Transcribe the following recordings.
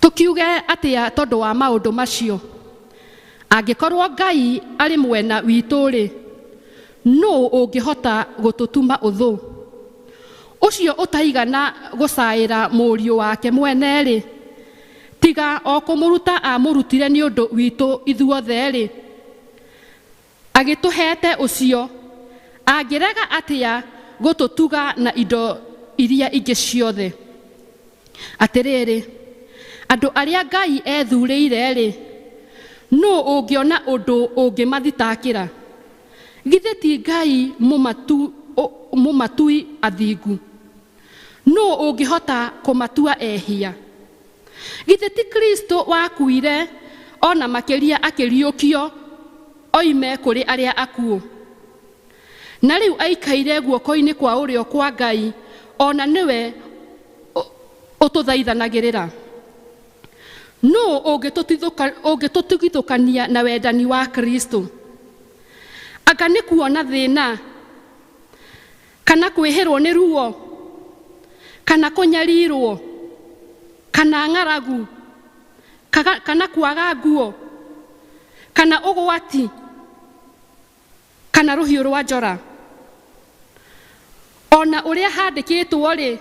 Tũkiuge atĩa tondũ wa maũndũ macio? Angĩkorwo Ngai arĩ mwena witũ-rĩ, nũ ũngĩhota gũtũtuma ũthũ? Ũcio ũtaigana gũcaĩra mũriũ wake mwene-rĩ, tiga o kũmũruta amũrutire nĩ ũndũ witũ ithuothe-rĩ, Agĩtũheete ũcio. Angĩrega atĩa gũtũtuga na indo iria ingĩ ciothe? Atĩrĩrĩ, andũ arĩa Ngai ethuurĩire-rĩ, nũũ ũngĩona ũndũ ũngĩmathitakĩra? Githĩ ti Ngai mũmatui athingu? Nũ ũngĩhota kũmatua ehia? Githĩ ti Kristo wakuire o na makĩria akĩriũkio oime kũrĩ arĩa akuũ, na rĩu aikaire guoko-inĩ kwa ũrĩo kwa Ngai, o na nĩwe ũtũthaithanagĩrĩra? Nũ ũngĩtũtigithũkania na wendani wa Kristo? Anga nĩ kuona thĩna? Kana kwĩhĩrwo nĩ ruo, kana kũnyarirwo, kana ng'aragu, kaga, kana kwaga nguo, kana ũgwati, kana rũhiũ rwa njora. O na ũrĩa handĩkĩtwo-rĩ,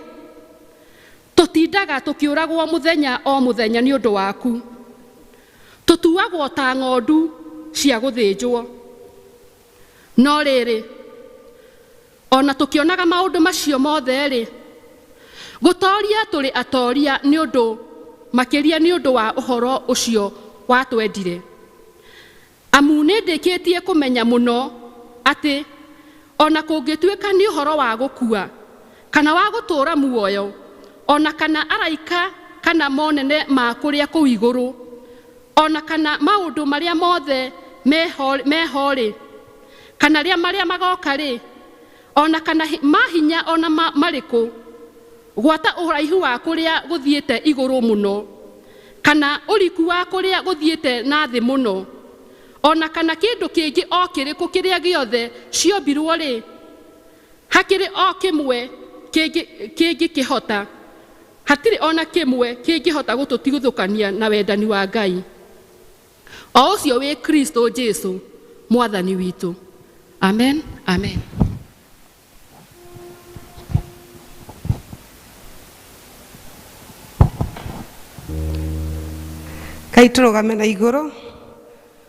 Tũtindaga tũkĩũragwo mũthenya o mũthenya nĩ ũndũ waku, tũtuagwo ta ng'ondu cia gũthĩnjwo. No rĩrĩ, o na tũkĩonaga maũndũ macio mothe-rĩ, gũtooria tũrĩ atooria nĩ ũndũ makĩria nĩ ũndũ wa ũhoro ũcio watwendire, amu nĩndĩkĩtie kũmenya mũno atĩ o na kũngĩtuĩka nĩ ũhoro wa gũkua kana wa gũtũũra muoyo, o na kana araika kana monene ma kũrĩa kũu igũrũ, O na kana maũndũ marĩa mothe me ho-rĩ, kana rĩa marĩa magooka-rĩ, o na kana ma hinya o na marĩkũ, gwata ũraihu wa kũrĩa gũthiĩte igũrũ mũno, kana ũriku wa kũrĩa gũthiĩte na thĩ mũno, o na kana kĩndũ kĩngĩ o kĩrĩkũ kĩrĩa gĩothe ciombirwo-rĩ, Hakĩrĩ o kĩmwe kĩngĩ kĩngĩkĩhota, hatirĩ o na kĩmwe kĩngĩhota gũtũtigithũkania na wendani wa Ngai, o ũcio wĩ Kristo Jesu Mwathani witũ. Amen, amen. Kaĩ tũrũgame na igũrũ.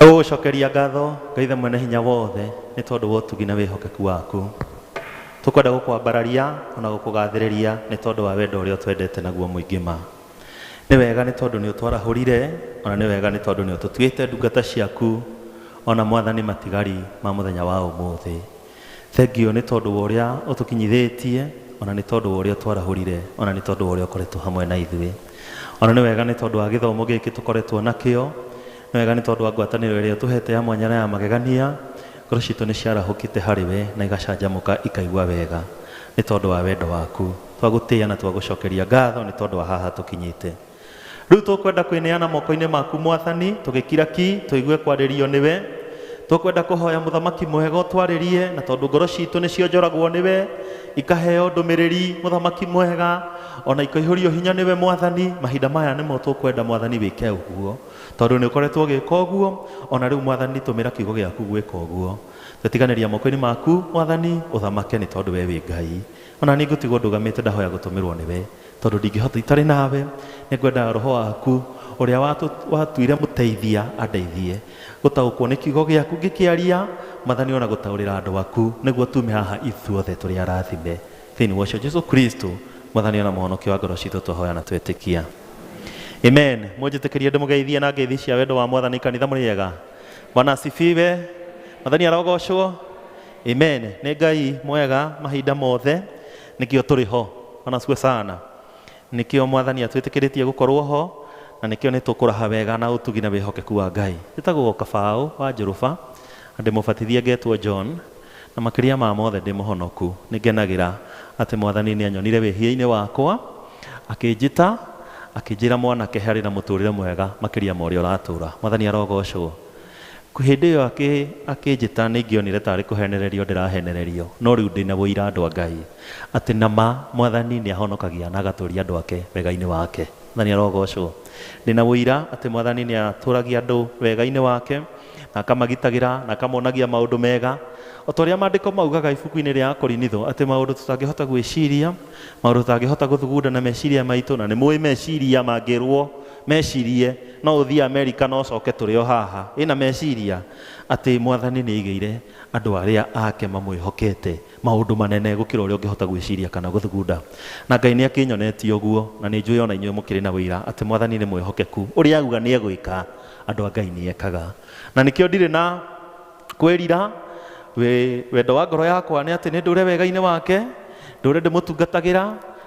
gũgũcokeria ngatho ngaithe mwene hinya wothe nĩ tondũ wa ũtugi na wĩhokeku waku tũkwenda gũkwambararia ona gũkũgathĩrĩria nĩ tondũ wa wendo ũrĩa ũtwendete naguo mũingĩ ma nĩ wega nĩ tondũ nĩ ũtwarahũrire ona nĩ wega nĩ tondũ nĩ ũtũtuĩte ndungata ciaku ona mwathani matigari ma mũthenya wa ũmũthĩ Thengio nĩ tondũ wa ũrĩa ũtũkinyithĩtie, o na nĩ tondũ wa ũrĩa ũtwarahũrire, o na nĩ tondũ wa ũrĩa ũkoretwo hamwe na ithuĩ. O na nĩ wega nĩ tondũ wa gĩthomo gĩkĩ tũkoretwo nakĩo. Nĩ wega nĩ tondũ wa ngwatanĩro ĩrĩa ũtũhete ya mwanya na ya magegania. Ngoro citũ nĩ ciarahũkĩte harĩ we na igacanjamũka ikaigua wega nĩ tondũ wa wendo waku. Twagũtĩĩa na twagũcokeria ngatho nĩ tondũ wa haha tũkinyĩte. Rĩu tũkwenda kwĩneana moko-inĩ maku mwathani, tũgĩkira ki, tũigue kwarĩrio nĩwe. Tũkwenda kũhoya mũthamaki mwega ũtwarĩrie, na tondũ ngoro citũ nĩcionjoragwo nĩwe, ikaheo ndũmĩrĩri, mũthamaki mwega, o na ikaihũrio hinya nĩwe mwathani, mahinda maya nĩmo tũkwenda mwathani wĩke ũguo, tondũ nĩũkoretwo ũgĩka ũguo, o na rĩu mwathani tũmĩra kiugo gĩaku gwĩka ũguo. Twetiganĩria moko-inĩ maku mwathani, ũthamake nĩ tondũ we wĩ Ngai. O na niĩ ngũtigwo ndũgamĩte ndahoya gũtũmĩrwo nĩwe. Tondũ ndingĩhota itarĩ nawe, nĩ ngwenda roho waku ũrĩa watuire mũteithia andeithie gũtaũkwo nĩ kiugo gĩaku ngĩkĩaria mathani ona gũtaũrĩra andũ aku nĩguo tume haha ithuothe tũrĩ arathime thĩinĩ wa ũcio Jesu Kristo mwathani ona mũhonokia wa ngoro citũ twahoya na twetĩkia amen mũnjĩtĩkĩrie ndĩmũgeithie na ngeithi cia wendo wa mwathani kanitha mũrĩ ega bwana asifiwe mathani arogocwo amen nĩ ngai mwega mahinda mothe Nĩkĩo tũrĩ ho. Wanasu Osana. Nĩkĩo Mwathani atwĩtĩkĩrĩtie gũkorwo ho, na nĩkĩo nĩtũkũraha wega na ũtugi na wĩhokeku wa Ngai. Njĩtagwo o Kabaũ wa Njũrũba, na ndĩ mũbatithia ngetwo John, na makĩria ma mothe ndĩ mũhonoku. Nĩngenagĩra atĩ Mwathani nĩanyonire wĩhia-inĩ wakwa, akĩnjĩta, akĩnjĩra mwanake harĩ na mũtũrĩre mwega makĩria ma ũrĩa ũratũra. Mwathani arogoocwo. Hĩndĩ ĩyo akĩ, akĩnjĩta, nĩingĩonire ta arĩ kũheenererio ndĩraheenererio, no rĩu ndĩ na ũira, andũ a Ngai, atĩ na ma, Mwathani nĩ ahonokagia na agatũũria andũ ake wega-inĩ wake. Mwathani arogoocwo! Ndĩ na ũira atĩ Mwathani nĩ atũũragia andũ wega-inĩ wake, na akamagitagĩra, na akamonagia maũndũ mega, o ta ũrĩa Maandĩko maugaga ibuku-inĩ rĩa Akorinitho, atĩ maũndũ tũtangĩhota gwĩciria, maũndũ tũtangĩhota gũthugunda na meciria maitũ, na nĩmũũĩ meciria mangĩrũo Mecirie, No ũthiĩ Amerika na ũcoke tũrĩ o haha. Wĩ na meciria atĩ Mwathani nĩ aigĩire andũ arĩa Ake mamwĩhokete maũndũ manene gũkĩra ũrĩa ũngĩhota gwĩciria kana gũthugunda? Na Ngai nĩ akĩnyonetie ũguo, na nĩ njũĩ o na inyuĩ mũkĩrĩ na ũira atĩ Mwathani nĩ mwĩhokeku. Ũrĩa auga nĩ egwĩka, andũ a Ngai nĩ ekaga. Na nĩkĩo ndirĩ na. kwĩrira wĩ wendo wa ngoro yakwa nĩ atĩ nĩ ndũre wega-inĩ wake ndũre ndĩmũtungatagĩra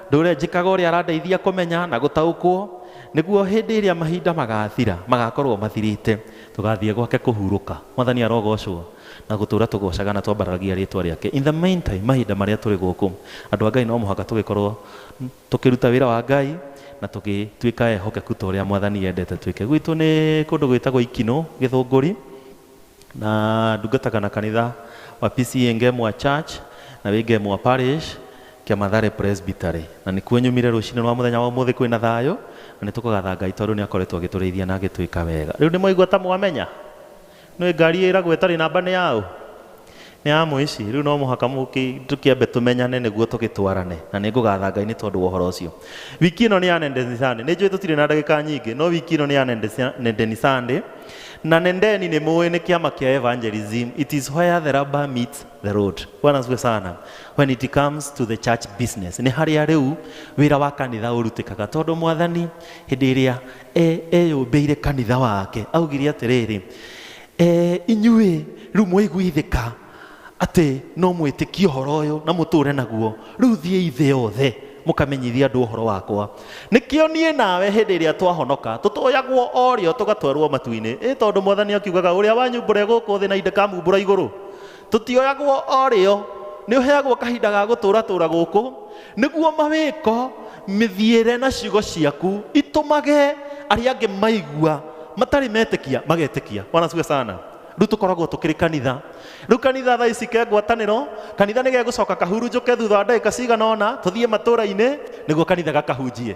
ndũre njĩkaga ũrĩa arandeithia kũmenya na gũtaũkwo nĩguo hĩndĩ ĩrĩa mahinda magathira magakorwo mathirĩte tũgathiĩ gwake kũhurũka mwathani arogocwo na gũtũra tũgocaga na twambaragia rĩtwa rĩake in the meantime mahinda marĩa tũrĩ gũkũ andũ a ngai no mũhaka tũgĩkorwo tũkĩruta wĩra wa ngai na tũgĩtuĩka ehokeku ta ũrĩa mwathani yendete twĩke gwitũ nĩ kũndũ gwĩtagwo ikinũ gĩthũngũri na ndungataga na kanitha wa PCA Ngemwa Church na wĩ Ngemwa Parish kĩa Mathare Presbytery na nĩkuo nyumire rũcinĩ rwa mũthenya wa ũmũthĩ kwĩna thayũ na nĩ tũkagatha Ngai tondũ nĩ akoretwo agĩtũrĩithia na agĩtwĩka wega rĩu nĩ mwaigua ta mwamenya nĩ ngari ĩragwo ĩtarĩ namba nĩ yaũ Nĩamwĩci, Rĩu no mũhaka mũkĩ, tũkĩambe tũmenyane nĩguo tũgĩtwarane, na nĩngũgatha Ngai nĩ tondũ wa ũhoro ũcio. Wiki ĩno nĩ ya Nendeni Sunday. Nĩnjũĩ tũtirĩ na ndagĩka nyingĩ, no wiki ĩno nĩ ya Nendesi- Nendeni Sunday. Na Nendeni nĩmũĩ nĩ kĩama kĩa evangelism. It is where the rubber meets the road. Bwana asifiwe sana. When it comes to the church business. Nĩ harĩa rĩu wĩra wa kanitha ũrutĩkaga. Tondũ Mwathani hĩndĩ ĩrĩa e- eyũmbĩire kanitha wake, augire atĩrĩrĩ, E, inyuĩ rĩu mwaiguithĩka atĩ no mwĩtĩkie ũhoro ũyũ na mũtũũre naguo rĩu thiĩi thĩ yothe mũkamenyithie andũ ũhoro wakwa nĩkĩo niĩ nawe hĩndĩ ĩrĩa twahonoka tũtoyagwo o rĩo tũgatwarwo matu-inĩ ĩ tondũ mwathani akiugaga ũrĩa wanyu mbũre gũkũ thĩ na indĩkamumbũra igũrũ tũtioyagwo o rĩo nĩ ũheagwo kahinda ga gũtũratũra gũkũ nĩguo mawĩko mĩthiĩre na ciugo ciaku itũmage arĩa angĩ maigua matarĩ metĩkia magetĩkia bwana asifiwe sana rĩu tũkoragwo tũkĩrĩ kanitha rĩu kanitha thaa ici ke ngwatanĩro kanitha nĩ gegũcoka kahurunjũke thutha wa ndagĩka cigana ona tũthiĩ matũũra-inĩ nĩguo kanitha gakahunjie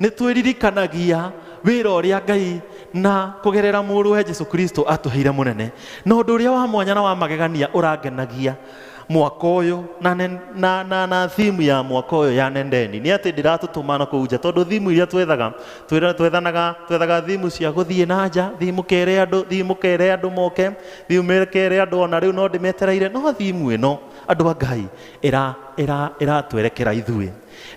nĩ twĩririkanagia wĩra ũrĩa ngai na kũgerera mũrũwe jesu kristo atũheire mũnene na ũndũ ũrĩa wa mwanya na wa magegania ũrangenagia mwaka ũyũ na, nen- na, na, na thimu ya mwaka ũyũ ya nendeni nĩ atĩ ndĩratũtũma na kũu nja tondũ thimu iria twethaga twĩra- twethanaga twethaga thimu cia gũthiĩ na nja thimu kere andũ thimu kere andũ moke thimu kere andũ ona rĩu no ndĩmetereire no thimu ĩno andũ a ngai ĩra- ĩra- ĩratwerekera ithuĩ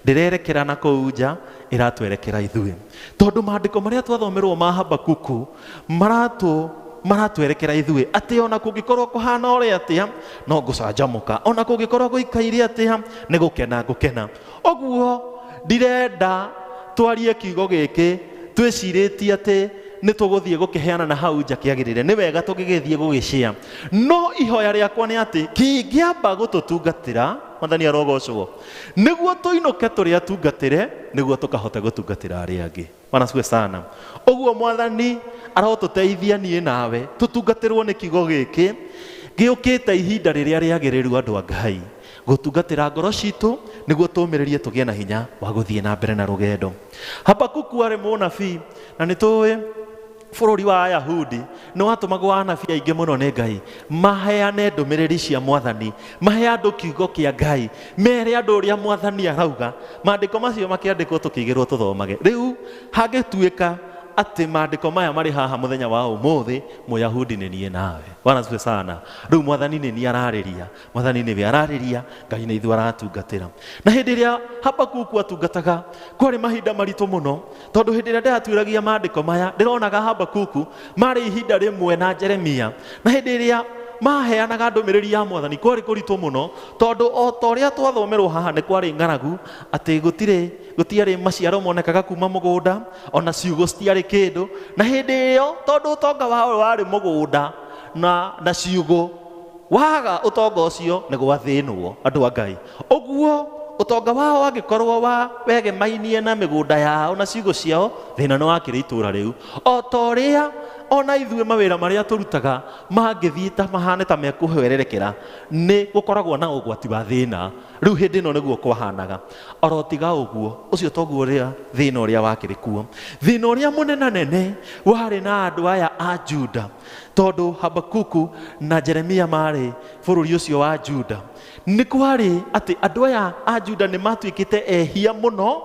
ndĩrerekera na kũu nja ĩratwerekera ithuĩ tondũ maandĩko marĩa twathomerwo ma habakuku maratũ maratwerekera ithuĩ atĩ ona kũngĩkorwo kũhana ũrĩa atĩa no ngũcanjamũka ona kũngĩkorwo gũikaire atĩa nĩ gũkena ngũkena ũguo ndirenda twarie kiugo gĩkĩ twĩcirĩtie atĩ nĩ tũgũthiĩ gũkĩheana na hau nja kĩagĩrĩre nĩ wega tũgĩgĩthiĩ gũgĩcia no ihoya rĩakwa nĩ atĩ kĩngĩamba gũtũtungatĩra mwathani arogocwo nĩguo tũinũke tũrĩ atungatĩre nĩguo tũkahota gũtungatĩra arĩa angĩ wanasue sana ũguo mwathani arotũteithia niĩ nawe tũtungatĩrwo nĩ kiugo gĩkĩ gĩũkĩte ihinda rĩrĩa rĩagĩrĩru andũ a ngai gũtungatĩra ngoro citũ nĩguo tũmĩrĩrie tũgĩe na hinya wa gũthiĩ na mbere na rũgendo habakuku arĩ mũnabii na nĩ tũĩ Bũrũri wa Ayahudi nĩ watũmagwo anabii aingĩ mũno nĩ Ngai maheane ndũmĩrĩri cia mwathani, mahe andũ kiugo kĩa Ngai, mere andũ ũrĩa mwathani arauga. Maandĩko macio makĩandĩkwo tũkĩigĩrwo tũthomage. Rĩu hangĩtuĩka atĩ maandĩko maya marĩ haha mũthenya wa ũmũthĩ, Mũyahudi nĩ niĩ nawe. Bwana asifiwe sana. Rĩu mwathani nĩ niĩ ararĩria, mwathani nĩwe ararĩria ngai na ithuĩ aratungatĩra na hĩndĩ ĩrĩa habakuku atungataga kwarĩ mahinda maritũ mũno tondũ hĩndĩ ĩrĩa ndĩratuĩragia maandĩko maya ndĩronaga habakuku marĩ ihinda rĩmwe na jeremia na hĩndĩ ĩrĩa maheanaga ndũmĩrĩri ya mwathani kwarĩ kũritũ mũno tondũ o ta ũrĩa twathomerwo haha nĩ kwarĩ ng'aragu atĩ gũtirĩ gũtiarĩ maciaro monekaga kuma mũgũnda ona ciugo citiarĩ kĩndũ na hĩndĩ ĩyo tondũ ũtonga wao warĩ mũgũnda na, na ciugo Waga ũtonga ũcio nĩ gwathĩnwo, andũ a Ngai. Ũguo, ũtonga wao angĩkorwo wa wegemainie na mĩgũnda yao na ciugũ ciao, thĩna nĩ wakĩrĩ itũũra rĩu. O ta ũrĩa o na ithuĩ mawĩra marĩa tũrutaga mangĩthiĩ ta mahane ta mekũhwererekera, nĩ gũkoragwo na ũgwati wa thĩna. Rĩu hĩndĩ ĩno nĩguo kwahanaga. O ro tiga ũguo, ũcio toguo ũrĩa thĩna ũrĩa wakĩrĩ kuo. Thĩna ũrĩa mũnenanene warĩ na andũ aya a Juda. tondũ habakuku na jeremia maarĩ bũrũri ũcio wa juda nĩ kwarĩ atĩ andũ aya a juda nĩ matuĩkĩte ehia mũno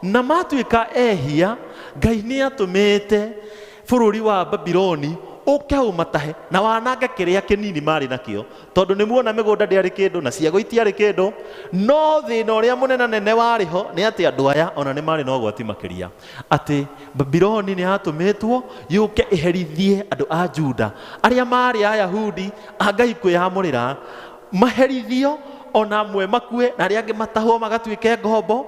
na matuĩka ehia ngai nĩ atũmĩte bũrũri wa babiloni ũke ũmatahe na wanange kĩrĩa kĩnini marĩ nakĩo tondũ nĩ muona mĩgũnda ndĩarĩ kĩndũ na ciago itiarĩ kĩndũ no thĩna ũrĩa mũnenanene warĩ ho nĩ atĩ andũ aya ona nĩ marĩ na ũgwati makĩria atĩ babironi nĩ yatũmĩtwo yũke ĩherithie andũ a juda arĩa maarĩ ayahudi a ngai kwĩyamũrĩra maherithio ona amwe makue na arĩa angĩ matahwo magatuĩke ngombo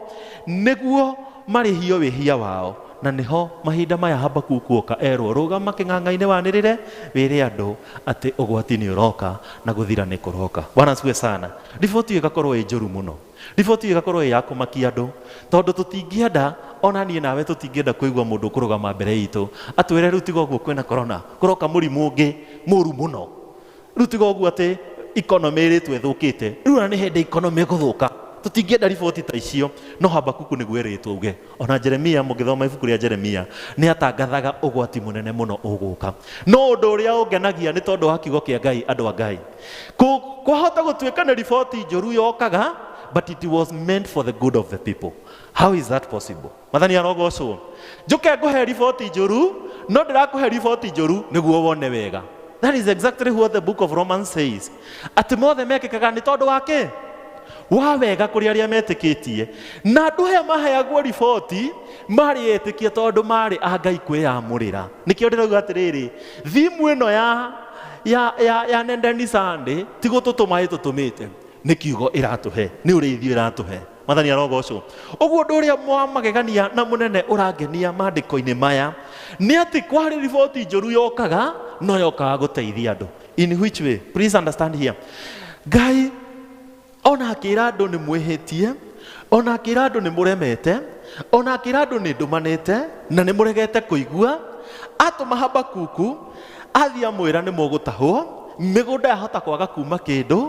nĩguo marĩhio wĩhia wao na nĩho mahinda maya habakuku oka erwo rũgama kĩng'ang'a-inĩ wanĩrĩre wĩre andũ atĩ ũgwati nĩ ũroka na gũthira nĩ kũroka bwana asifiwe sana riboti ĩgakorwo ĩ njũru mũno Riboti ĩyo ĩgakorũo ĩĩ ya kũmakia andũ, tondũ tũtingĩenda, o na niĩ nawe tũtingĩenda kũigua mũndũ ũkũrũgama mbere itũ atwĩre, Rĩu tiga ũguo kwĩna korona, kũroka mũrimũ ũngĩ mũru mũno. Rĩu tiga ũguo atĩ economy ĩrĩtwo ĩthũkĩte. Rĩu ona nĩ hĩndĩ economy ĩgũthũka. Tũtingĩenda riboti ta icio. No Habakuku nĩguo erĩtwo auge, O na Jeremia, mũngĩthoma ibuku rĩa Jeremia, nĩ aatangathaga ũgwati mũnene mũno ũgũka. No ũndũ ũrĩa ũngenagia nĩ tondũ wa kiugo kĩa Ngai, andũ a Ngai. Kũ, kwahota gũtuĩka nĩ riboti njũru yokaga, but it was meant for the good of the people. How is that possible? Mathani arogocwo. Njũke ngũhe riboti njũru, no ndĩrakũhe riboti njũru nĩguo wone wega. That is exactly what the book of Romans says. Atĩ mothe mekĩkaga nĩ tondũ wa kĩ? Wa wega kũrĩ arĩa metĩkĩtie. Na andũ aya maheagwo riboti marĩ etĩkia tondũ marĩ a Ngai kwĩyamũrĩra. Nĩkĩo ndĩrauga atĩrĩrĩ, thimũ ĩno ya ya ya ya Nendeni Sunday ti gũtũtũma ĩtũtũmĩte nĩ kiugo ĩratũhe nĩ ũrĩithio ĩratũhe mathani arogocwo ũguo ũndũ ũrĩa mwa magegania na mũnene ũrangenia maandĩko-inĩ maya nĩ atĩ kwarĩ riboti njũru yokaga no yokaga gũteithia andũ in which way please understand here ngai ona akĩra andũ nĩ mwĩhĩtie ona akĩra andũ nĩ mũremete ona akĩra andũ nĩ ndũmanĩte na nĩ mũregete kũigua atũma habakuku athiĩ amwĩra nĩ mũgũtahwo mĩgũnda yahota kwaga kuma kĩndũ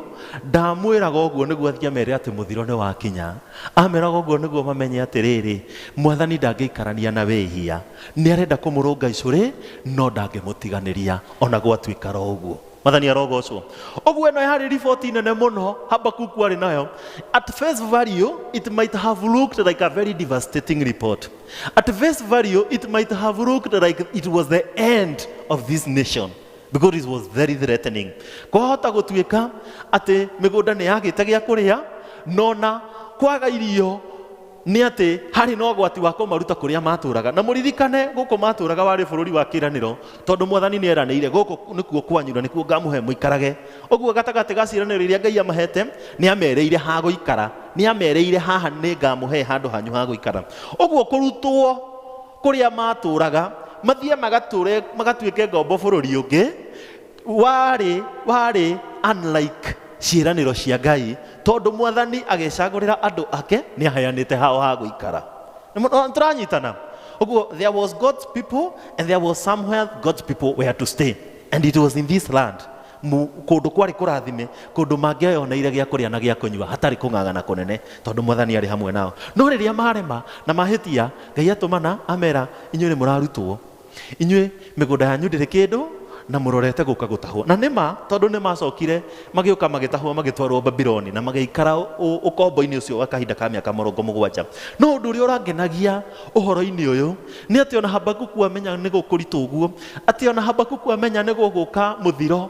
ndamwĩraga ũguo nĩguo athiĩ amere atĩ mũthiro nĩ wakinya ameraga ũguo nĩguo mamenye atĩrĩrĩ mwathani ndangĩikarania na wĩhia Nĩ arenda kũmũrũnga icũrĩ, no ndangĩmũtiganĩria o na gwatuĩka ro ũguo. Mwathani arogoocwo. Ũguo ĩno yarĩ riboti nene mũno Habakuku arĩ nayo. At face value, it might have looked like a very devastating report. At face value, it might have looked like it was the end of this nation because it was very threatening. Kwahota gũtuĩka atĩ mĩgũnda nĩ yagĩte gĩa kũrĩa, no na kwaga irio nĩ atĩ harĩ na ũgwati wa kũmaruta kũrĩa maatũũraga. Na mũririkane, gũkũ maatũũraga warĩ bũrũri wa kĩĩranĩro, tondũ Mwathani nĩ eranĩire, gũkũ nĩkuo kwanyu na nĩkuo ngamũhe mũikarage. Ũguo gatagatĩ ga ciĩranĩro iria Ngai amahete, nĩ amereire ha gũikara. Nĩ amereire haha nĩ ngamũhe handũ hanyu ha gũikara. Ũguo kũrutwo kũrĩa maatũũraga, mathiĩ magatũũre, magatuĩke ngombo bũrũri ũngĩ, warĩ warĩ unlike ciĩranĩro cia ngai tondũ mwathani agĩcagũrĩra andũ ake nĩ aheanĩte hao ha gũikara Nĩ mũno- nĩ tũranyitana ũguo there was god's people and there was somewhere god's people were to stay and it was in this land Mu- kũndũ kwarĩ kũrathime kũndũ mangĩoneire gĩa kũrĩa na gĩa kũnyua hatarĩ kũng'ang'ana kũnene tondũ mwathani arĩ hamwe nao no rĩrĩa marema na mahĩtia ngai atũmana amera inyuĩ nĩ mũrarutwo inyuĩ mĩgũnda yanyu ndĩrĩ kĩndũ na mũrorete gũka gũtahwo na nĩma tondũ nĩ macokire magĩũka magĩtahwo magĩtwarwo babiloni na magĩikara ũ- ũkombo-inĩ ũcio wa kahinda ka mĩaka mũrongo mũgwanja no ũndũ ũrĩa ũrangenagia ũhoro-inĩ ũyũ nĩ atĩ ona habakuku amenya nĩ gũkũritũ ũguo atĩ ona habakuku amenya nĩ gũgũka mũthiro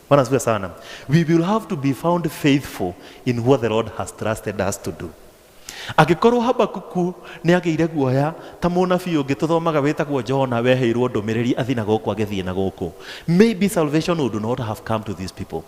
Bwana asifiwe sana. We will have to be found faithful in what the Lord has trusted us to do. Angĩkorwo Habakuku nĩ agĩire guoya ta mũnabii ũngĩ tũthomaga wĩtagwo Jona weheirwo ndũmĩrĩri athiĩ na gũkũ agĩthiĩ na gũkũ. Maybe salvation would not have come to these people.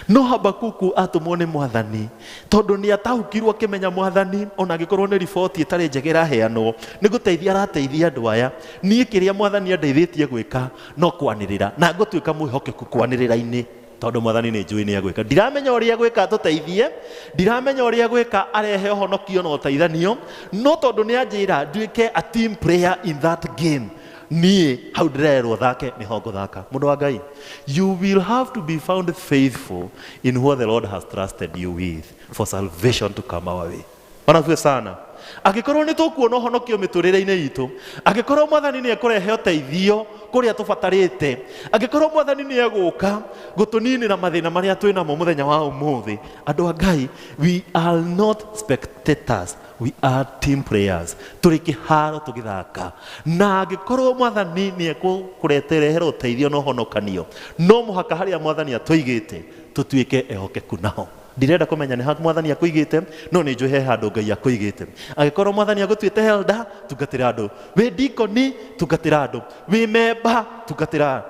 No Habakuku atũmwo nĩ mwathani tondũ nĩ ataũkirwo akĩmenya mwathani ona angĩkorwo nĩ riboti ĩtarĩ njega ĩraheanwo nĩ gũteithia arateithia andũ aya. Niĩ kĩrĩa mwathani andeithĩtie gwĩka no kwanĩrĩra na ngũtuĩka mwĩhokeku kwanĩrĩra-inĩ tondũ mwathani nĩ njũĩ nĩ agwĩka ndiramenya ũrĩa agwĩka atũteithie ndiramenya ũrĩa agwĩka arehe ũhonokio na ũteithanio no tondũ nĩ anjĩra nduĩke a team player in that game niĩ hau ndĩrererwo thake nĩho ngũthaka mũndũ wa ngai you will have to be found faithful in what the lord has trusted you with for salvation to come our way Onaguo sana. Angĩkorwo nĩ tũkuona ũhonokio mĩtũrĩre-inĩ itũ, angĩkorwo mwathani nĩ ekũrehe ũteithio kũrĩa tũbatarĩte, angĩkorwo mwathani nĩ egũka gũtũninĩra mathĩna marĩa twĩ namo mũthenya wa ũmũthĩ, andũ a Ngai, we are not spectators, we are team players. Tũrĩ kĩharo tũgĩthaka. Na angĩkorwo mwathani nĩ ekũreherera ũteithio na ũhonokanio, no mũhaka harĩa mwathani atũigĩte tũtuĩke ehokeku naho. Ndirenda kũmenya nĩ ha mwathani akũigĩte, no nĩ njũĩ he handũ Ngai akũigĩte. Angĩkorwo mwathani agũtuĩte helda, tungatĩra andũ. Wĩ ndikoni, tungatĩra andũ. Wĩ memba, tungatĩra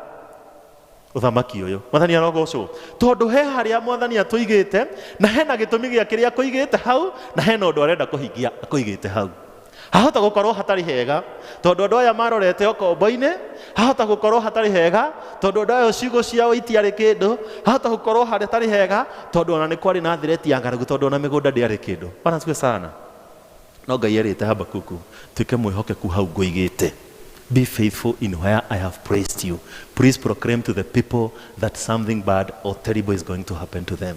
ũthamaki ũyũ. Mwathani arogocwo. Tondũ he harĩa mwathani atũigĩte, na hena gĩtũmi gĩa kĩrĩa akũigĩte hau, na hena ũndũ arenda kũhingia akũigĩte hau. hahota gũkorwo hatarĩ hega tondũ andũ aya marorete ũkombo-inĩ hahota gũkorwo hatarĩ hega tondũ andũ aya ciugo ciao itiarĩ kĩndũ hahota gũkorwo hatarĩ hega tondũ ona nĩ kwarĩ na thireti ya ng'aragu tondũ ona mĩgũnda ndĩarĩ kĩndũ bwana siwe sana no ngai erĩte habakuku tuĩke mwĩhokeku hau ngũigĩte be faithful in where i have praised you please proclaim to the people that something bad or terrible is going to happen to them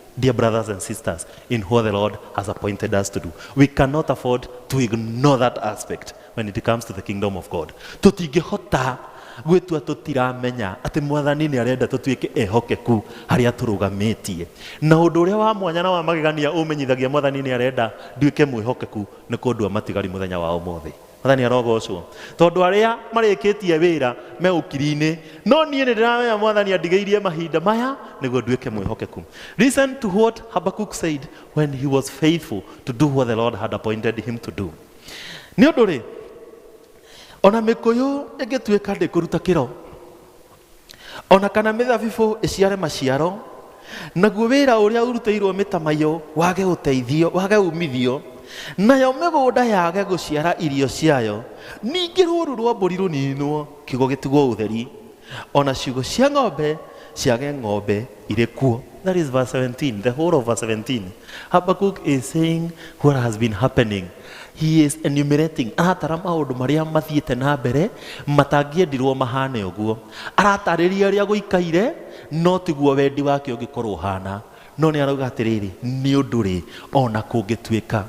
Dear brothers and sisters, in what the Lord has appointed us to do, we cannot afford to ignore that aspect when it comes to the kingdom of God. Tũtingĩhota gwĩtua tũtiramenya atĩ mwathani nĩ arenda tũtuĩke ehokeku harĩa tũrũgamĩtie na ũndũ ũrĩa wa mwanya na wa magegania ũmenyithagia mwathani nĩ arenda nduĩke mwĩhokeku nĩ kũndua matigari mũthenya wa ũmũthĩ Mwathani arogocwo. Tondũ arĩa marĩkĩtie wĩra me ũkiri-inĩ, no niĩ nĩ ndĩramenya Mwathani andigĩirie mahinda maya nĩguo nduĩke mwĩhokeku. Listen to what Habakkuk said when he was faithful to do what the Lord had appointed him to do. Nĩ ũndũ rĩ, ona mĩkũyũ ĩngĩtuĩka ndĩkũruta kĩro, o na kana mĩthabibũ ĩciare maciaro naguo wĩra ũrĩa ũrutĩirwo mĩtamaiyũ wage ũteithio wage umithio nayo mĩgũnda yage gũciara irio ciayo ningĩ rũũru rwa mbũri rũninwo kiugo gĩtigwo ũtheri o na ciugo cia ng'ombe ciage ng'ombe irĩ kuo that is verse 17 the whole of verse 17 habakkuk is saying what has been happening He is enumerating, aratara maũndũ marĩa mathiĩte na mbere matangĩendirwo mahane ũguo. Aratarĩria ũrĩa gũikaire, no tiguo wendi wake ũngĩkorwo ũhana. No nĩ arauga atĩrĩrĩ, nĩ ũndũ rĩ, ona kũngĩtuĩka.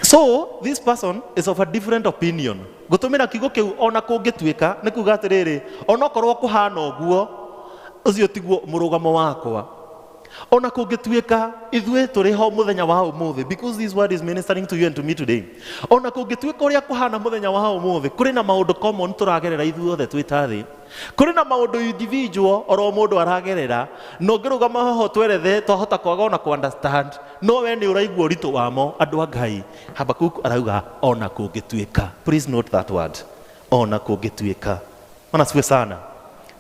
So this person is of a different opinion. Gũtũmĩra kiugo kĩu ona kũngĩtuĩka nĩ kuga atĩrĩrĩ, onokorwo kũhana ũguo, ũcio tiguo mũrũgamo wakwa. O na kũngĩtuĩka ithuĩ tũrĩ ho mũthenya wa ũmũthĩ, because this word is ministering to you and to me today. O na kũngĩtuĩka ũrĩa kũhana mũthenya wa ũmũthĩ, kũrĩ na maũndũ common tũragerera ithuothe twĩ ta thĩ. Kũrĩ na maũndũ individual oro mũndũ aragerera, na ũngĩrũgama haha ũtwerethe twahota kwaga ona kũ understand, no we nĩ ũraigua ũritũ wamo, andũ a Ngai. Habakuku arauga o na kũngĩtuĩka. Please note that word. O na kũngĩtuĩka. ona siwe sana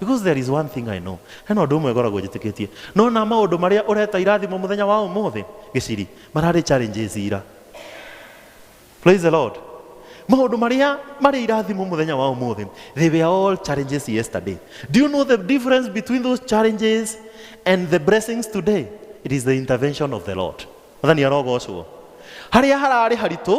because there is one thing i know hena ũndũ ũmwe ngoragwo njĩtĩkĩtie nona maũndũ marĩa ũreta irathimo mũthenya wa ũmũthĩ gĩciri mararĩ challenges ira praise the lord maũndũ marĩa marĩ irathimo mũthenya wa ũmũthĩ they were all challenges yesterday do you know the difference between those challenges and the blessings today it is the intervention of the lord mathani arogocwo harĩa hararĩ haritũ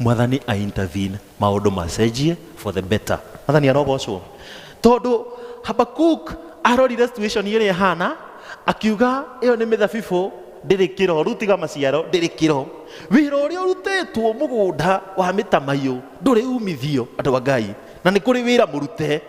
mwathani a intervene maũndũ macenjie for the better mwathani arogocwo tondũ habakuk arorire situation ĩrĩa ĩhana akiuga ĩyo nĩ mĩthabibũ ndĩrĩ kĩro rĩu tiga maciaro ndĩrĩ kĩro wĩra ũrĩa ũrutĩtwo mũgũnda wa mĩtamaiyũ ndũrĩ umithio andũ a ngai na nĩ kũrĩ wĩra mũrute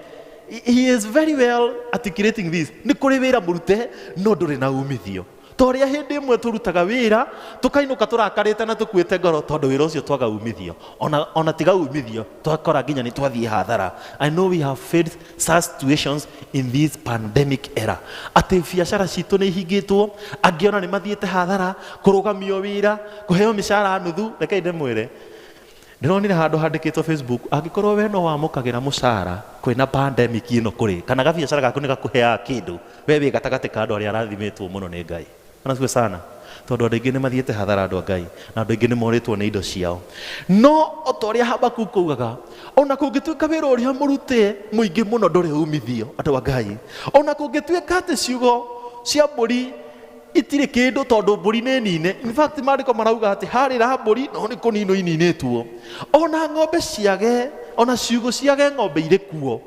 he is very well articulating this nĩ kũrĩ wĩra mũrute no ndũrĩ na umithio Ta ũrĩa hĩndĩ ĩmwe tũrutaga wĩra, tũkainũka tũrakarĩte na tũkuĩte ngoro tondũ wĩra ũcio twaga umithio. Ona, ona tiga umithio, twakora nginya nĩ twathiĩ hathara. I know we have faced such situations in this pandemic era. Atĩ biacara citũ nĩ ihingĩtwo, angĩ ona nĩ mathiĩte hathara, kũrũgamio wĩra, kũheo mĩcara nuthu, rekei ndĩmwĩre, Ndĩronire handũ handĩkĩtwo Facebook, angĩkorwo we no wamũkagĩra mũcara kwĩna pandemic ĩno kũrĩ, kana gabiacara gaku nĩ gakũheaga kĩndũ, we wĩ gatagatĩ ka andũ arĩa arathimĩtwo mũno nĩ Ngai. Bwana asifiwe sana. Tondũ andũ aingĩ nĩ mathiĩte hathara andũ a Ngai, na andũ aingĩ nĩ morĩtwo nĩ indo ciao. No o ta ũrĩa Habakuku augaga, o na kũngĩtuĩka wĩra ũrĩa mũrute mũingĩ mũno ndũrĩ umithio, andũ a Ngai, o na kũngĩtuĩka atĩ ciugo cia mbũri itirĩ kĩndũ tondũ mbũri nĩ nine in fact maandĩko marauga atĩ harĩra mbũri no nĩ kũninwo ininĩtwo ona ng'ombe ciage ona ciugũ ciage ng'ombe irĩ kuo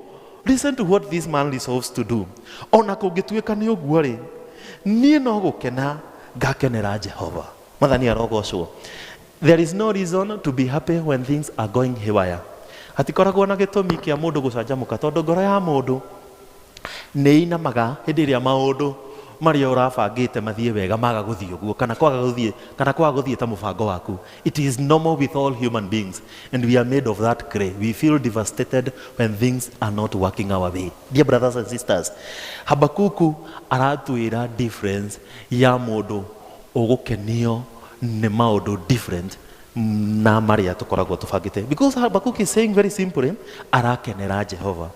listen to what this man resolves to do ona kũngĩtuĩka nĩ ũguo rĩ niĩ no gũkena ngakenera jehova mathani arogocwo there is no reason to be happy when things are going haywire hatikoragwo na gĩtũmi kĩa mũndũ gũcanjamũka tondũ ngoro ya mũndũ nĩ inamaga hĩndĩ ĩrĩa maũndũ marĩa ũrabangĩte mathiĩ wega maga gũthiĩ ũguo kana kwaga gũthiĩ kana kwaga gũthiĩ ta mũbango waku it is normal with all human beings and we are made of that clay we feel devastated when things are not working our way dear brothers and sisters habakuku aratwĩra difference ya mũndũ ũgũkenio nĩ maũndũ different na marĩa tũkoragwo tũbangĩte because habakuku is saying very simply arakenera jehova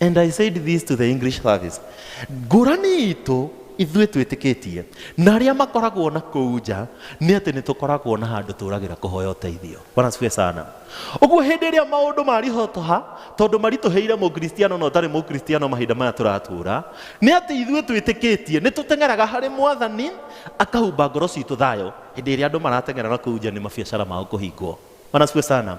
And I said this to the English service. Ngũrani itũ ithuĩ twĩtĩkĩtie na arĩa makoragwo na kũu nja nĩ atĩ nĩ tũkoragwo na handũ tũragĩra kũhoya ũteithio bwana siwe sana ũguo hĩndĩ ĩrĩa maũndũ marihotoha tondũ maritũhĩire mũkristiano na ũtarĩ mũkristiano mahinda maya tũratũra nĩ atĩ ithuĩ twĩtĩkĩtie nĩ tũteng'eraga harĩ mwathani akahumba ngoro citũ thayũ hĩndĩ ĩrĩa andũ marateng'era na kũu nja nĩ mabiacara mao kũhingwo Bwana sifiwe sana.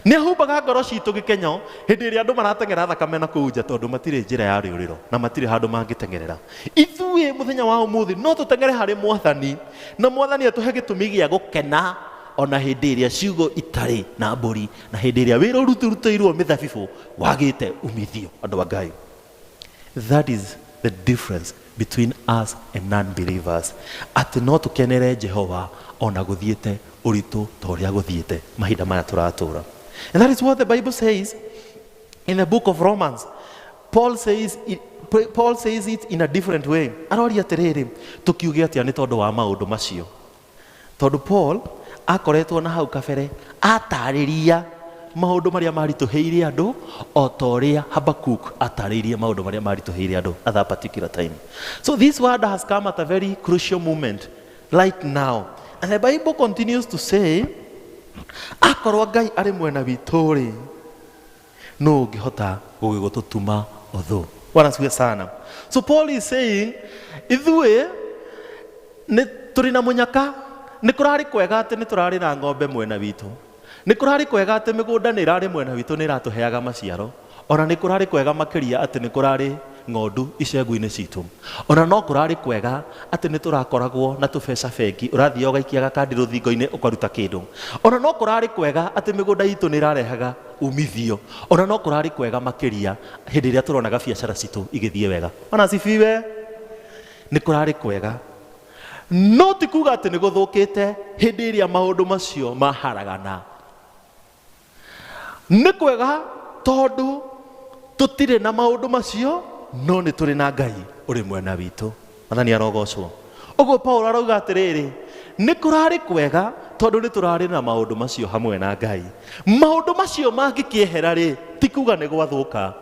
Nĩ humbaga ngoro citũ gĩkenyo hĩndĩ ĩrĩa andũ marateng'era thakame na kũu nja tondũ matirĩ njĩra ya rĩũrĩro na matirĩ handũ mangĩteng'erera. Ithuĩ mũthenya wa ũmũthĩ no tũteng'ere harĩ mwathani na mwathani atũhe gĩtũmi gĩa gũkena ona hĩndĩ ĩrĩa ciugo itarĩ na mbũri na hĩndĩ ĩrĩa wĩra ũrutĩrutĩirwo mĩthabibũ wagĩte umithio andũ a Ngai. That is the difference between us and non-believers. Atĩ no tũkenere Jehova ona gũthiĩte ũritũ ta ũrĩa gũthiĩte mahinda maya tũratũra. And that is what the Bible says in the book of Romans. Paul says it, Paul says it in a different way. Aroria atĩrĩrĩ, tũkiuge atĩa nĩ tondũ wa maũndũ macio? Tondũ Paul aakoretwo na hau kabere aataarĩria maũndũ marĩa maaritũhĩire andũ, o ta ũrĩa Habakkuk aataarĩirie maũndũ marĩa maaritũhĩire andũ at that particular time. So this word has come at a very crucial moment right now. And the Bible continues to say, akorwo Ngai arĩ mwena witũ-rĩ, nũ ũngĩhota gũgĩgũtũtuma ũthũ bwana siwe sana so paul is saying ithuĩ nĩ tũrĩ na mũnyaka nĩ kũrarĩ kwega atĩ nĩ tũrarĩ na ng'ombe mwena witũ nĩ kũrarĩ kwega atĩ mĩgũnda nĩ ĩrarĩ mwena witũ nĩ ĩratũheaga maciaro ona nĩ kũrarĩ kwega makĩria atĩ nĩ kũrarĩ ng'ondu icegu-inĩ citũ ona no kũrarĩ kwega atĩ nĩ tũrakoragwo na tũbeca bengi ũrathiĩ ũgaikia gakandi rũthingo-inĩ ũkaruta kĩndũ ona no kũrarĩ kwega atĩ mĩgũnda itũ nĩ ĩrarehaga umithio ona no kũrarĩ kwega makĩria hĩndĩ ĩrĩa tũronaga biacara citũ igĩthiĩ wega ona cibiwe nĩ kũrarĩ kwega no ti kuga atĩ nĩ gũthũkĩte hĩndĩ ĩrĩa maũndũ macio maharagana nĩ kwega tondũ tũtirĩ na maũndũ macio no nĩ tũrĩ na ngai ũrĩ mwena witũ Mwathani arogocwo. Ũguo Paulo arauga atĩrĩrĩ, nĩ kũrarĩ kwega tondũ nĩ tũrarĩ na maũndũ macio hamwe na Ngai. Maũndũ macio mangĩkĩehera rĩ, ti kuga nĩ gwathũka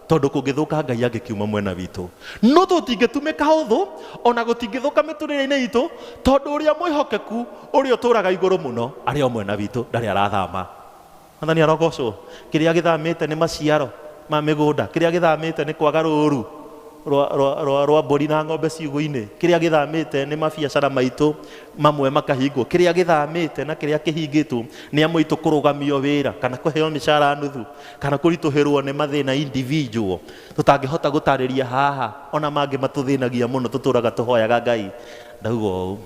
tondũ kũngĩthũka Ngai angĩkiuma mwena witũ. No tũtingĩtumĩka ũthũ, ona gũtingĩthũka mĩtũrĩre-inĩ itũ, tondũ ũrĩa mwĩhokeku ũrĩa ũtũraga igũrũ mũno arĩ o mwena witũ, ndarĩ arathama. Mwathani arogocwo. Kĩrĩa gĩthamĩte nĩ maciaro ma mĩgũnda. Kĩrĩa gĩthamĩte nĩ kwaga rũũru rwa, rwa, rwa, rwa mbũri na ng'ombe ciugũ-inĩ. Kĩrĩa gĩthamĩte nĩ mabiacara maitũ mamwe makahingwo. Kĩrĩa gĩthamĩte na kĩrĩa kĩhingĩtwo nĩ amwe aitũ kũrũgamio wĩra kana kũheo mĩcara nuthu kana kũritũhĩrwo nĩ mathĩna individual tũtangĩhota gũtarĩria haha, o na mangĩ matũthĩnagia mũno tũtũũraga tũhoyaga Ngai. Ndauga ũũ.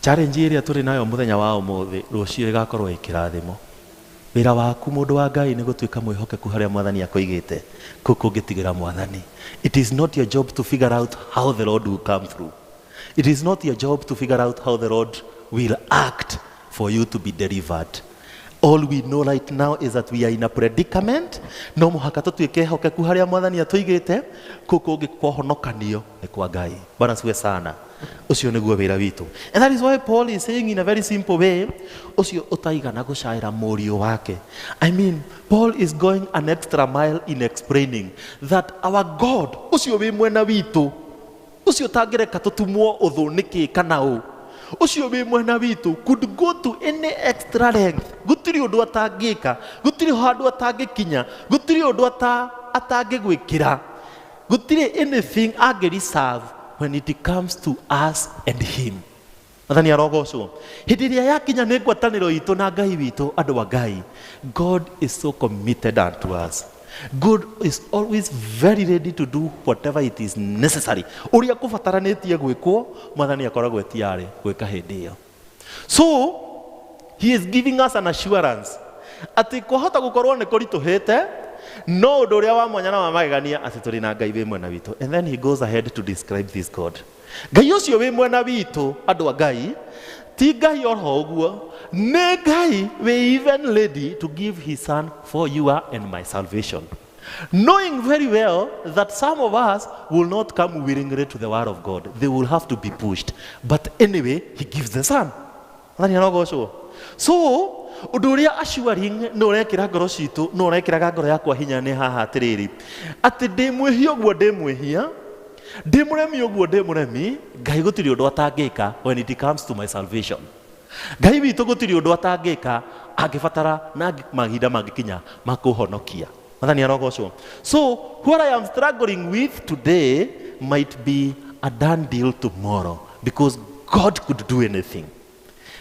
Challenge ĩrĩa tũrĩ nayo mũthenya wa ũmũthĩ rũciũ ĩgakorwo ĩkĩrathimo. Wĩra waku mũndũ wa Ngai nĩ gũtuĩka mwĩhokeku harĩa mwathani akũigĩte, kũu kũngĩtigĩra mwathani. It is not your job to figure out how the Lord will come through. It is not your job to figure out how the Lord will act for you to be delivered. All we know right now is that we are in a predicament. No mũhaka tũtuĩke ehokeku harĩa mwathani atũigĩte, kũu kũngĩ kwa ũhonokanio. nĩ kwa ngai bwana siwe sana ũcio nĩguo wĩra witũ and that is why paul is saying in a very simple way ũcio ũtaigana gũcaĩra mũriũ wake i mean paul is going an extra mile in explaining that our god ũcio wĩ mwena witũ ũcio ũtangĩreka tũtumwo ũthũ nĩkĩ kana ũ ũcio wĩ mwena witũ could go to any extra length gũtirĩ ũndũ atangĩka gũtirĩ handũ atangĩkinya gũtirĩ ũndũ ata- atangĩgwĩkĩra gũtirĩ anything angĩ reserve when it comes to us and him athani arogocwo hĩndĩ ĩrĩa yakinya nĩ ngwatanĩro itũ na ngai witũ andũ wa ngai god is so committed unto us god is always very ready to do whatever it is necessary ũrĩa kũbataranĩtie gwĩkwo mwathani akoragwo etiarĩ gwĩka hĩndĩ ĩyo so he is giving us an assurance atĩ kwahota gũkorwo nĩ kũritũhĩte no ũndũ ũrĩa wa mwanya na wa magegania atĩ tũrĩ na ngai wĩ mwena witũ and then he goes ahead to describe this god ngai ũcio wĩ mwena witũ andũ a ngai ti ngai oro ũguo nĩ ngai we even lady to give his son for you and my salvation Knowing very well that some of us will not come willingly to the word of God. They will have to be pushed. But anyway, he gives the son. Nani anogocwo? So, ũndũ ũrĩa assuring nĩ ũrekĩra ngoro citũ nĩ ũrekĩraga ngoro yakwa hinya nĩ haha atĩrĩrĩ atĩ ndĩmwĩhia ũguo ndĩmwĩhia ndĩmũremi ũguo ndĩmũremi ngai gũtirĩ ũndũ atangĩka when it comes to my salvation Ngai witũ gũtirĩ ũndũ atangĩka angĩbatara na angĩ- mahinda mangĩkinya ma kũhonokia. Mwathani arogocwo. So what I am struggling with today might be a done deal tomorrow because God could do anything.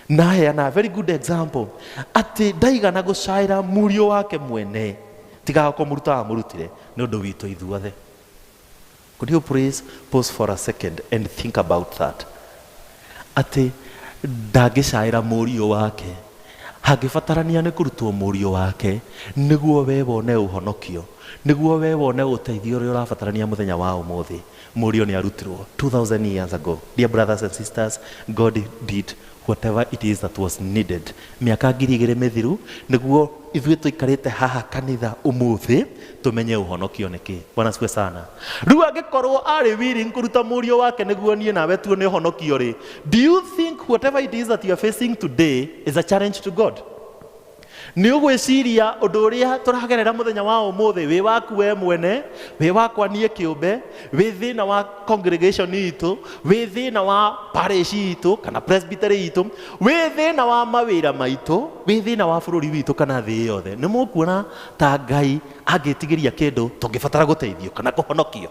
Naheana a very good example atĩ ndaigana gũcaĩra mũriũ wake mwene tiga kũmũruta amũrutire nĩ ũndũ witũ ithuothe. Could you please pause for a second and think about that? Atĩ ndangĩcaĩra mũriũ wake. Hangĩbatarania nĩ kũrutwo mũriũ wake nĩguo we wone ũhonokio, nĩguo we wone ũteithio ũrĩa ũrabatarania mũthenya wa ũmũthĩ. Mũriũ nĩ arutirwo 2000 years ago. Dear brothers and sisters, God did whatever it is that was needed mĩaka ngiri igĩrĩ mĩthiru nĩguo ithuĩ tũikarĩte haha kanitha ũmũthĩ tũmenye ũhonokio nĩ kĩ bwana siwe sana rĩu angĩkorwo arĩ willing kũruta mũriũ wake nĩguo niĩ nawe tuone ũhonokio rĩ do you think whatever it is that you are facing today is a challenge to god Nĩ ũgwĩciria ũndũ ũrĩa tũragerera mũthenya wa ũmũthĩ wĩ waku we mwene, wĩ wakwa niĩ kĩũmbe, wĩ thĩna wa congregation itũ, wĩ thĩna wa parish itũ kana presbytery itũ, wĩ thĩna wa mawĩra maitũ, wĩ thĩna wa bũrũri witũ kana thĩ yothe. Nĩ mũkuona ta Ngai angĩtigĩria kĩndũ tũngĩbatara gũteithio kana kũhonokio?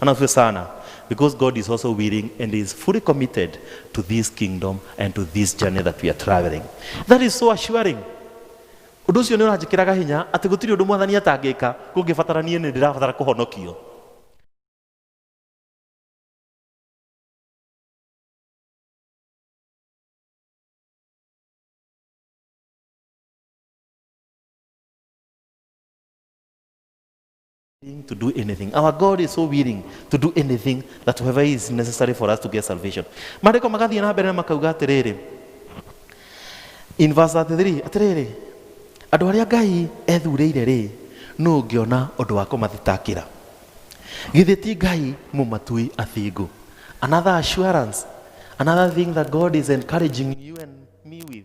Anafyo sana because God is also willing and is fully committed to this kingdom and to this journey that we are traveling. That is so assuring. Ũndũ ũcio nĩ ũranjĩkĩraga hinya atĩ gũtirĩ ũndũ mwathani atangĩka kũngĩbatara niĩ nĩ ndĩrabatara kũhonokio. willing to do anything. Our God is so willing to do anything that whoever is necessary for us to get salvation. Mariko magathiĩ na mbere na makauga atĩrĩrĩ, in verse 33, atĩrĩrĩ, andũ arĩa Ngai ethurĩire rĩ, nũ ũngĩona ũndũ wa kũmathitakĩra? Githĩ ti Ngai mũmatui athingu? Another assurance, another thing that God is encouraging you and me with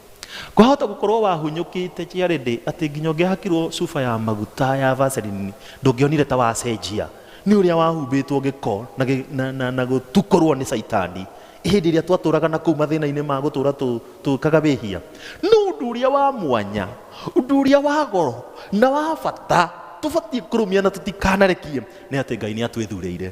Kwahota gũkorwo wahunyũkĩte Jared atĩ nginya ũngĩahakirwo cuba ya maguta ya Vaseline ndũngĩonire ta wacenjia. Nĩ ũrĩa wahumbĩtwo gĩko na, gĩ- na, na, na gũtukorwo nĩ caitani hĩndĩ ĩrĩa twatũraga na kũu mathĩna-inĩ ma gũtũra tũ- tũkaga wĩhia. No ũndũ ũrĩa wa mwanya, ũndũ ũrĩa wa goro na wa bata tũbatiĩ kũrũmia na tũtikanarekie nĩ atĩ Ngai nĩ atwĩthurĩire.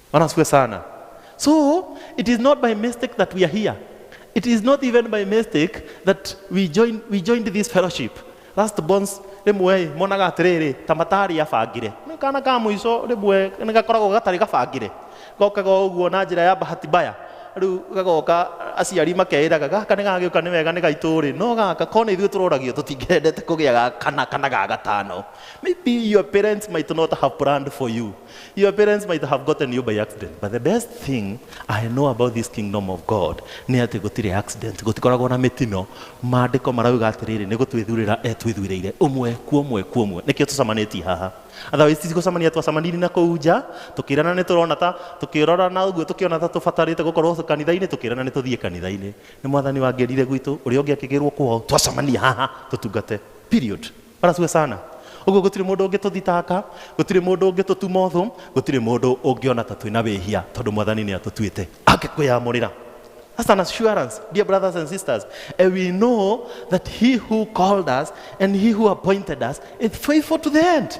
Bwana asifiwe sana. So it is not by mistake that we are here. It is not even by mistake that we joined, we joined this fellowship. Last bonds rĩmwe ĩ, monaga atĩrĩrĩ ta matarĩ abangire nĩ kana ka mũico rĩmwe nĩ gakoragwo gatarĩ gabangire gokaga o ũguo na njĩra ya bahati mbaya rĩu gagoka aciari makeĩraga gaka nĩ gagĩũka nĩ wega nĩ gaitũ rĩ no gaka ko nĩ ithuĩ tũroragio tũtingĩendete kũgĩa ga kana kana ga gatano maybe your parents might not have planned for you Your parents might have gotten you by accident, but the best thing I know about this kingdom of God nĩ atĩ gũtirĩ accident, gũtikoragwo na mĩtino. Maandĩko marauga atĩrĩrĩ, nĩ gũtwĩthurĩra etwĩthuurĩire ũmwe kwa ũmwe kwa ũmwe. Nĩkĩo tũcamanĩtie haha. Otherwise tigũcamania twacamanirie na kũu nja, tũkĩrana nĩ tũrona ta tũkĩrorana ũguo tũkĩona ta tũbatarĩte gũkorwo kanitha-inĩ, tũkĩrana nĩ tũthiĩ kanitha-inĩ. Nĩ mwathani wangerire gwitũ, ũrĩa ũngĩ akĩgĩrwo kwao, twacamania haha tũtungate. Period. Bwana asifiwe sana. Ũguo gũtirĩ mũndũ ũngĩtũthitanga, gũtirĩ mũndũ ũngĩtũtuma ũthũ, gũtirĩ mũndũ ũngĩona ta twĩna wĩhia tondũ Mwathani nĩ atũtuĩte angĩkwĩyamũrĩra. That's an assurance, dear brothers and sisters. And we know that he who called us and he who appointed us is faithful to the end.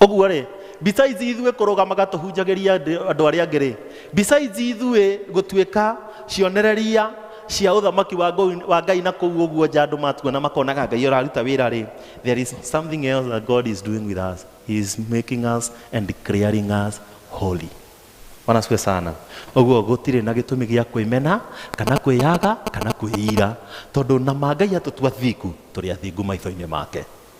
ũguo rĩ besides ithuĩ kũrũgamaga tũhunjagĩria andũ arĩa angĩ rĩ besides ithuĩ gũtuĩka cionereria cia ũthamaki wa Ngau- wa ngai na kũu ũguo nja andũ matuona makonaga ngai ũraruta wĩra rĩ there is something else that god is doing with us he is making us and declaring us holy Bwana asifiwe sana ũguo gũtirĩ na gĩtũmi gĩa kwĩmena kana kwĩyaga kana kwĩira tondũ na ma ngai atũtua thingu tũrĩ athingu maitho-inĩ make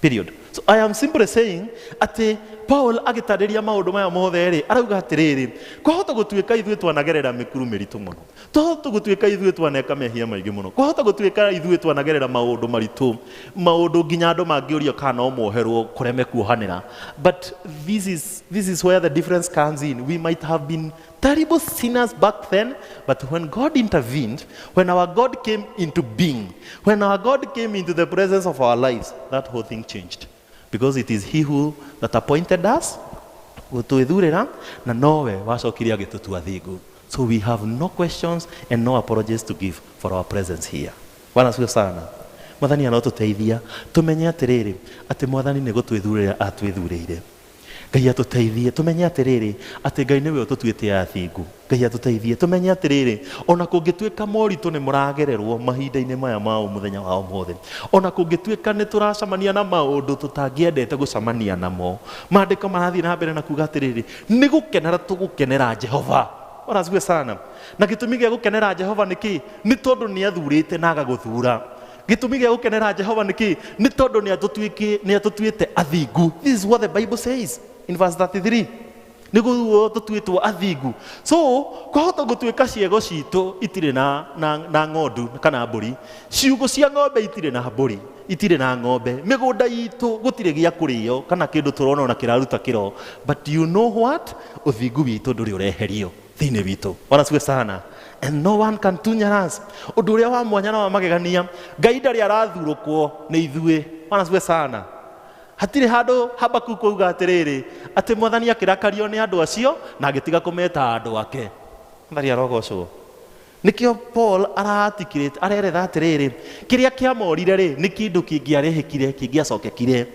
Period. So I am simply saying atĩ Paul agĩtarĩria maũndũ maya mothe rĩ, arauga atĩrĩrĩ, kwahota gũtuĩka ithuĩ twanagerera mĩkuru mĩritũ mũno. Twahota gũtuĩka ithuĩ twaneka mehia maingĩ mũno. Kwahota gũtuĩka ithuĩ twanagerera maũndũ maritũ, maũndũ nginya andũ mangĩũria kana no moherwo kũreme kuohanĩra. But this is, this is where the difference comes in. We might have been Terrible sinners back then, but when God intervened, when our God came into being, when our God came into the presence of our lives, that whole thing changed. Because it is He who that appointed us, gũtwĩthurĩra na nowe wacokire agĩtũtua thingu so we have no questions and no apologies to give for our presence here bwana asifiwe sana mwathani anotũteithia tũmenye atĩrĩrĩ atĩ mwathani nĩ gũtwĩthurĩra atwĩthurĩire Ngai atũteithie tũmenye atĩrĩrĩ, atĩ Ngai nĩwe ũtũtuĩte athingu. Ngai atũteithie tũmenye atĩrĩrĩ, ona kũngĩtuĩka moritũ nĩ mũragererwo mahinda-inĩ maya ma mũthenya wa ũmũthĩ, ona kũngĩtuĩka nĩ tũracamania na maũndũ tũtangĩendete gũcamania namo, maandĩko marathiĩ na mbere na kuga atĩrĩrĩ, nĩ gũkenera tũgũkenera Jehova. Orazue sana. Na gĩtũmi gĩa gũkenera Jehova nĩ kĩ? Nĩ tondũ nĩ athurĩte na agagũthura. Gĩtũmi gĩa gũkenera Jehova nĩ kĩĩ? Nĩ tondũ nĩ atũtuĩkĩ- nĩ atũtuĩte athingu. This is what the Bible says in verse 33. Nĩ guo tũtuĩtwo athingu. So, kwahota gũtuĩka ciĩgo citũ itirĩ na, na, na ng'ondu kana mbũri. Ciugũ cia ng'ombe itirĩ na mbũri, itirĩ na ng'ombe. Mĩgũnda itũ gũtirĩ gĩa kũrĩo kana kĩndũ tũrona ona kĩraruta kĩro. But you know what? Ũthingu witũ ndũrĩ ũreherio. thĩinĩ witũ bwana siwe sana and no one can tunya us ũndũ ũrĩa wa mwanya na wa magegania ngai ndarĩ arathurũkwo nĩ ithuĩ bwana siwe sana hatirĩ handũ habakuku auga atĩrĩrĩ atĩ mwathani akĩrakario nĩ andũ acio na agĩtiga kũmeta andũ ake mwathani arogocwo Nĩkĩo Paul araarticulate, areretha atĩrĩrĩ, kĩrĩa kĩamorire-rĩ, nĩ kĩndũ kĩngĩarĩhĩkire, kĩngĩacokekire.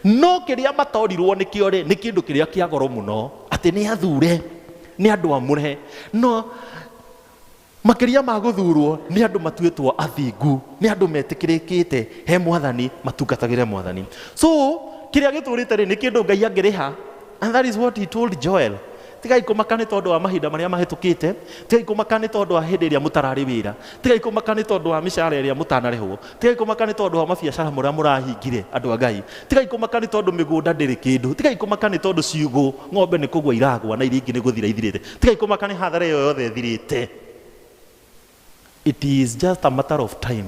No kĩrĩa matorirwo nĩkĩo-rĩ, nĩ kĩndũ kĩrĩa kĩa goro mũno, atĩ nĩ athure, nĩ andũ amũre. No makĩria ma gũthurwo, nĩ andũ matuĩtwo athingu, nĩ andũ metĩkĩrĩkĩte he Mwathani, matungatagĩre Mwathani. So, kĩrĩa gĩtũrĩte-rĩ, nĩ kĩndũ Ngai angĩrĩha, and that is what he told Joel. Tigai kũmaka nĩ tondũ wa mahinda marĩa mahĩtũkĩte, tigai kũmaka nĩ tondũ wa hĩndĩ ĩrĩa mũtararĩ wĩra, tigai kũmaka nĩ tondũ wa mĩcara ĩrĩa mũtanarĩhwo, tigai kũmaka nĩ tondũ wa mabiacara marĩa mũrahingire, andũ a Ngai, tigai kũmaka nĩ tondũ mĩgũnda ndĩrĩ kĩndũ, tigai kũmaka nĩ tondũ ciugũ, ng'ombe nĩ kũgwa iragwa na iria ingĩ nĩ gũthira ithirĩte, tigai kũmaka nĩ hathara ĩyo yothe ĩthirĩte. It is just a matter of time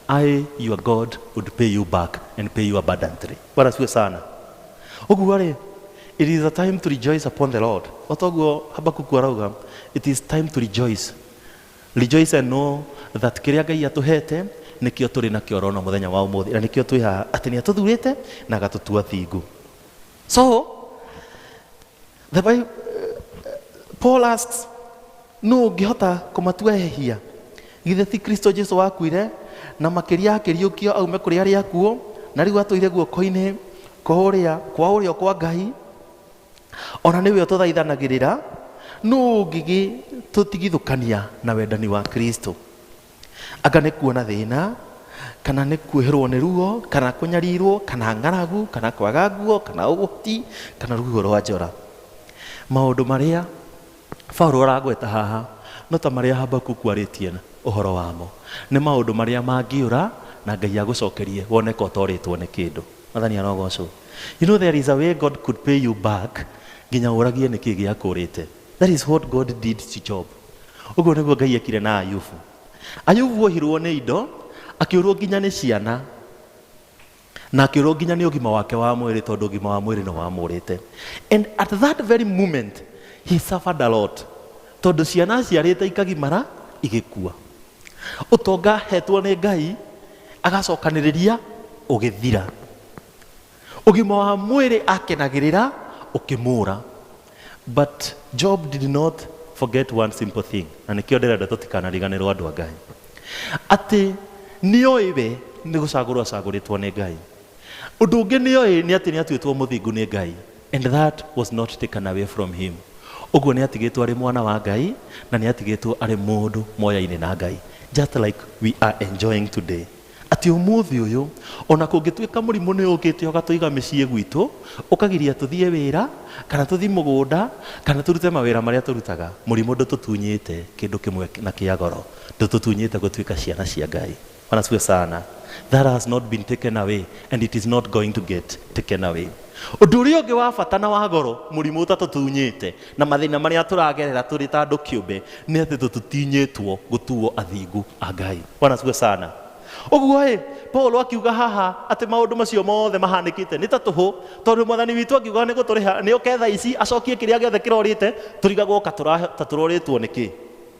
I your God would pay you back and pay you abundantly. Bwana siwe sana. Ũguo rĩ, it is a time to rejoice upon the Lord. O toguo Habakuku arauga, it is time to rejoice. Rejoice and know that kĩrĩa Ngai atũhete nĩkĩo tũrĩ nakĩo rona mũthenya wa ũmũthĩ na nĩkĩo twĩ haha atĩ nĩ atũthurĩte na agatũtua thingu. So The Bible, Paul asks, nũ ũngĩhota kũmatuehehia githĩ ti kristo jesu wakuire na makĩria akĩriũkio aume kũrĩ arĩa akuũ na rĩu atũire guoko-inĩ kwa ũrĩa kwa ũrĩo kwa ngai ona nĩwe ũtũthaithanagĩrĩra nũ ũngĩgĩtũtigithũkania na wendani wa kristo Anga nĩ kuona thĩna, kana nĩ kuoherwo nĩ ruo, kana kũnyarirwo, kana ng'aragu, kana kwaga nguo, kana ũgwati, kana rũhuho rwa njora. Maũndũ marĩa Paulo aragweta haha no ta marĩa Habakuku arĩtie ũhoro wamo. Nĩ maũndũ marĩa mangĩũra na Ngai agũcokerie wone ka ũtorĩtwo nĩ kĩndũ. Mwathani arogocwo. You know there is a way God could pay you back nginya ũragie nĩkĩ gĩakũrĩte. That is what God did to Job. Ũguo nĩguo Ngai ekire na Ayubu. Ayubu wohirwo nĩ indo, akĩũrwo nginya nĩ ciana, na akĩũrwo nginya nĩ ũgima wake wa mwĩrĩ tondũ ũgima wa mwĩrĩ nĩ wamũrĩte. And at that very moment, he suffered a lot. Tondũ ciana aciarĩte ikagimara, igĩkua. Ũtonga hetwo nĩ Ngai, agacokanĩrĩria, ũgĩthira. Ũgima wa mwĩrĩ akenagĩrĩra ũkĩmũũra. But Job did not forget one simple thing. Na nĩkĩo ndĩrenda tũtikanariganĩrwo andũ a Ngai. Atĩ nĩoĩ we nĩ gũcagũrwo acagũrĩtwo nĩ Ngai. Ũndũ ũngĩ nĩoĩ nĩ atĩ nĩatuĩtwo mũthingu nĩ Ngai. And that was not taken away from him. Ũguo nĩatigĩtwo arĩ mwana wa Ngai na nĩatigĩtwo arĩ mũndũ moya-inĩ na Ngai. Just like we are enjoying today. Atĩ ũmũthĩ ũyũ, o na kũngĩtuĩka mũrimũ nĩ ũũkĩte ũgatũiga mĩciĩ gwitũ, ũkagiria tũthiĩ wĩra, kana tũthiĩ mũgũnda, kana tũrute mawĩra marĩa tũrutaga, mũrimũ ndũtũtunyĩte kĩndũ kĩmwe na kĩa goro. Ndũtũtunyĩte gũtuĩka ciana cia Ngai. Bwana asifiwe sana. That has not been taken away and it is not going to get taken away. Ũndũ ũrĩa ũngĩ wa bata na wa goro mũrimũ ũtatũtunyĩte Na mathĩna marĩa tũragerera tũrĩ ta andũ kĩũmbe nĩ atĩ tũtutinyĩtwo gũtuo athingu a Ngai. Bwana asifiwe sana. Ũguo-ĩ, Paulo akiuga haha atĩ maũndũ macio mothe mahanĩkĩte nĩ ta tũhũ, tondũ Mwathani witũ angiuga nĩ gũtũrĩha, nĩ oke thaa ici acokie kĩrĩa gĩothe kĩrorĩte, tũrigagwo ka tũrorĩtwo nĩ kĩ.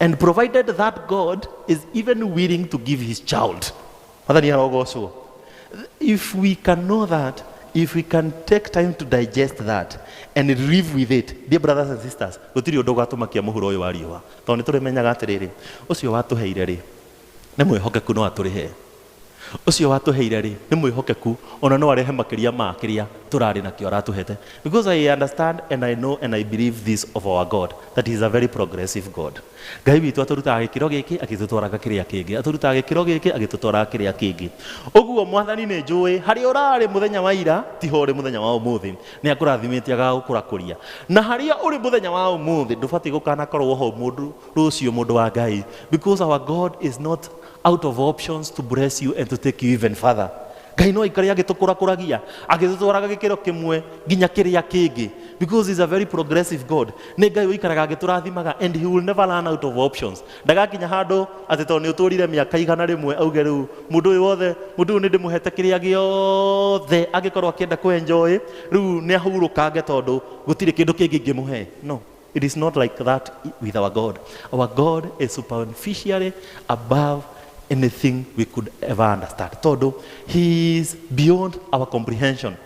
and provided that God is even willing to give his child. If we can know that, if we can take time to digest that and live with it, dear brothers and sisters, gũtirĩ ũndũ ũgatũmakia mũhuro ũyũ wa riũa tondũ nĩ tũrĩmenyaga atĩrĩrĩ ũcio watũheire rĩ nĩ mwĩhokeku no atũrĩhe Ũcio watũheire-rĩ, nĩ mwĩhokeku, o na no arehe makĩria ma kĩrĩa tũrarĩ nakĩo aratũhete. Because I understand and I know and I believe this of our God, that he is a very progressive God. Ngai witũ atũrutaga gĩkĩro gĩkĩ agĩtũtwaraga kĩrĩa kĩngĩ, atũrutaga gĩkĩro gĩkĩ agĩtũtwaraga kĩrĩa kĩngĩ. Ũguo, Mwathani, nĩ njũĩ harĩa ũrarĩ mũthenya wa ira ti ho ũrĩ mũthenya wa ũmũthĩ. Nĩ akũrathimĩte agagũkũrakũria. Na harĩa ũrĩ mũthenya wa ũmũthĩ ndũbatiĩ gũkanakorũo ho mũndũ rũciũ, mũndũ wa Ngai, because our God is not out of options to bless you and to take you even further ngai no aikare agĩtũkũrakũragia agĩtũtwaraga gĩkĩro kĩmwe nginya kĩrĩa kĩngĩ because is a very progressive god nĩ ngai ũikaraga agĩtũrathimaga and he will never run out of options ndagakinya handũ atĩ tondũ nĩ ũtũrire mĩaka igana rĩmwe auge rĩu mũndũ ũyũ wothe mũndũ ũyũ nĩ ndĩmũhete kĩrĩa gĩothe angĩkorwo akĩenda kwenjoĩ rĩu nĩ ahurũkange tondũ gũtirĩ kĩndũ kĩngĩ ingĩmũhe no It is not like that with our God. Our God is superficially above anything we could ever understand. Tondũ he is beyond our comprehension.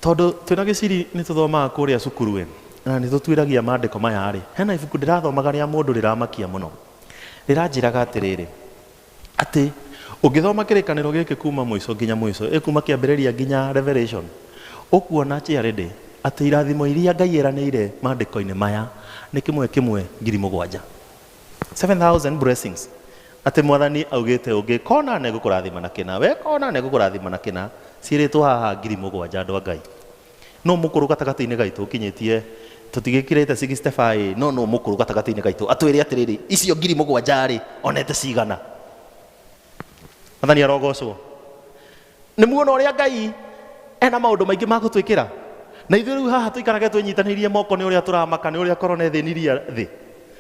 Tondũ twĩna gĩciri nĩ tũthomaga kũrĩa cukuru ĩ na nĩ tũtuĩragia maandĩko maya rĩ, hena ibuku ndĩrathomaga rĩa mũndũ rĩramakia mũno. Rĩranjĩraga atĩrĩrĩ, Atĩ, ũngĩthoma kĩrĩkanĩro gĩkĩ kuuma mũico nginya mũico, ĩ kuuma kĩambĩrĩria nginya Revelation, ũkuona clearly atĩ irathimo iria Ngai eranĩire maandĩko-inĩ maya nĩ kĩmwe kĩmwe ngiri mũgwanja. Seven thousand blessings. Atĩ Mwathani augĩte ũngĩka ũna nĩ ngũkũrathima na kĩna, weka ũna nĩ ngũkũrathima na kĩna. Ciĩrĩtwo haha ngiri mũgwanja andũ a Ngai. Nũ mũkũrũ gatagatĩ-inĩ gaitũ ũkinyĩtie, tũtigĩkĩrĩte 65-ĩ, no nũ mũkũrũ gatagatĩ-inĩ gaitũ atwĩre atĩrĩrĩ, icio ngiri mũgwanja-rĩ, onete cigana? Mwathani arogocwo. Nĩmuona ũrĩa Ngai ena maũndũ maingĩ ma gũtwĩkĩra? Na ithuĩ rĩu haha tũikarage twĩnyitanĩirie moko nĩ ũrĩa tũramaka nĩ ũrĩa korona ĩthĩnirie thĩ?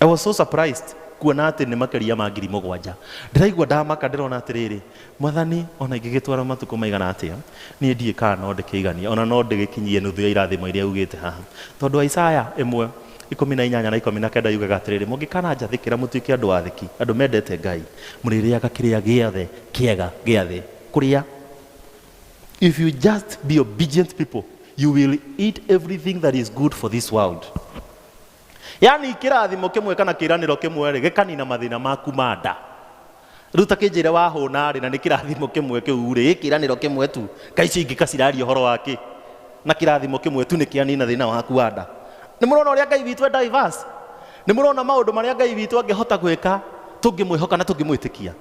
I was so surprised kuona atĩ nĩ makĩria ma ngiri mũgwanja. Ndĩraigua ndamaka ndĩrona atĩrĩrĩ, Mwathani, o na ingĩgĩtwara matukũ maigana atĩa, niĩ ndiũĩ kana no ndĩkĩiganie, o na no ndĩgĩkinyie nuthu ya irathimo iria ugĩte haha. Tondũ wa Isaya ĩmwe, ikũmi na inyanya na ikũmi na kenda yugaga atĩrĩrĩ, Mũngĩkana njathĩkĩra mũtuĩke andũ athĩki, andũ mendete Ngai, mũrĩrĩaga kĩrĩa gĩothe kĩega gĩa thĩ. Kũrĩa. If you just be obedient people, you will eat everything that is good for this world. yaani kĩrathimo kĩmwe kana kĩranĩro kĩmwe rĩ gĩkanina mathĩna maku ma nda rĩu ta kĩnjĩre wahũna rĩ na nĩ kĩrathimo kĩmwe kĩu rĩ kĩranĩro kĩmwe tu ngai icio ingĩ kaciraria ũhoro wa kĩ na kĩrathimo kĩmwe tu nĩ kĩanina thĩna waku wa nda nĩ mũrona ũrĩa ngai witũ e diverse nĩ mũrona maũndũ marĩa ngai witũ angĩhota gwĩka tũngĩmwĩhoka na tũngĩmwĩtĩkia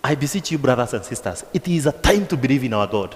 i beseech you brothers and sisters it is a time to believe in our god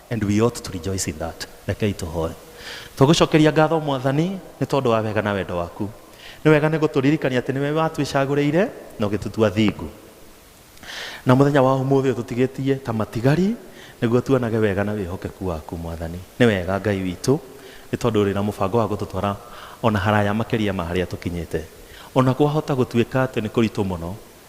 And we ought to rejoice in that. Rekei tũhoe. Tũgũcokeria ngatho mwathani nĩ tondũ wa wega na wendo waku. Nĩ wega nĩ gũtũririkania atĩ nĩwe watwĩcagũrĩire na ũgĩtũtua thingu. Na mũthenya wa ũmũthĩ ũyũ tũtigĩtie ta matigari nĩguo tuonage wega na wĩhokeku waku mwathani. Nĩ wega Ngai witũ nĩ tondũ ũrĩ na mũbango wa gũtũtwara ona haraya makĩria ma harĩa tũkinyĩte. Ona kwahota gũtuĩka atĩ nĩ kũritũ mũno,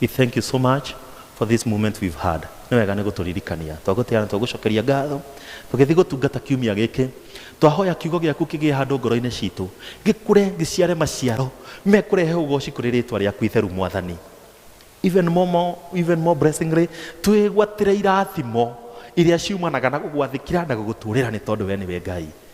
We thank you so much for this moment we've had. Nĩ wega nĩ gũtũririkania. Twagũtĩana twagũcokeria ngatho. Tũgĩthiĩ gũtungata kiumia gĩkĩ. Twahoya kiugo gĩaku kĩgĩe handũ ngoro-inĩ citũ. Gĩkũre gĩciare maciaro. Mekũrehe ũgoci kũrĩ rĩtwa rĩaku itheru mwathani. Even more, more, even more blessingly, twĩgwatĩre irathimo iria ciumanaga na gũgwathĩkĩra na gũgũtũrĩra nĩ tondũ we nĩwe Ngai.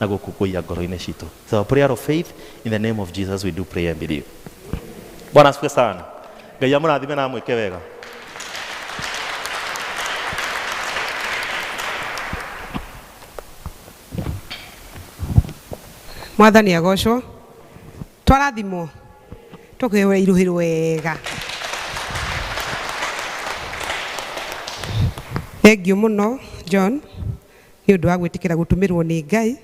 na gũkũngũiya ngoro-inĩ citũ. It's our prayer of faith in the name of Jesus we do pray and believe. Bwana asifiwe sana. Ngai amũrathime na amwĩke wega. mwathani agocwo twarathimwo tũkĩhũra iruhĩrwo wega thengiũ mũno john Nĩ ũndũ wa gwĩtĩkĩra gũtũmĩrwo nĩ Ngai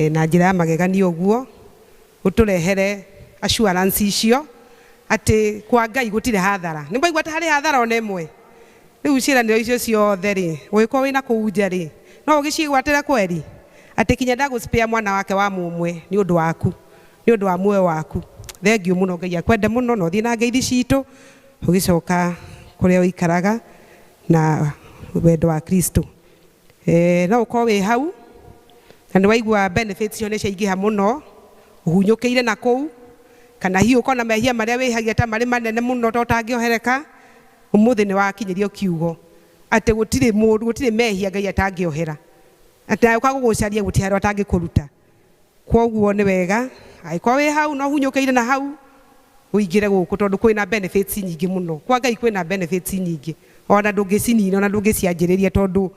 na njĩra ya magegania ũguo, ũtũrehere assurance icio atĩ kwa Ngai gũtirĩ hathara. Nĩ mwaigua atĩ harĩ hathara ona ĩmwe? Rĩu ciĩranĩro icio ciothe rĩ, ũngĩkorwo wĩna kũu nja rĩ, no ũgĩciĩgwatĩre kweri? Atĩ kinya ndagũ spare mwana wake wa mũmwe nĩ ũndũ waku, nĩ ũndũ wa muoyo waku? Thengiũ mũno, Ngai akwende mũno na ũthiĩ na ngeithi citũ ũgĩcoka kũrĩa ũikaraga. na wendo wa Kristo. Eh, no ũkorwo wĩ hau na nĩ waigua benefits icio nĩ ciaingĩha mũno ũhunyũkĩire na kũu kana hihi ũkorwo na mehia marĩa wĩhagia ta marĩ manene mũno ta ũtangĩohereka ũmũthĩ nĩ wakinyĩrio kiugo atĩ gũtirĩ mũndũ gũtirĩ mehia ngai atangĩohera atĩ agĩũka gũgũcaria gũtirĩ handũ atangĩkũruta Kwoguo nĩ wega angĩkorwo wĩ hau na ũhunyũkĩire na hau, ũingĩre gũkũ tondũ kwĩna benefits nyingĩ mũno. Kwa Ngai kwĩna benefits nyingĩ, ona ndũngĩcinina, ona ndũngĩcianjĩrĩria tondũ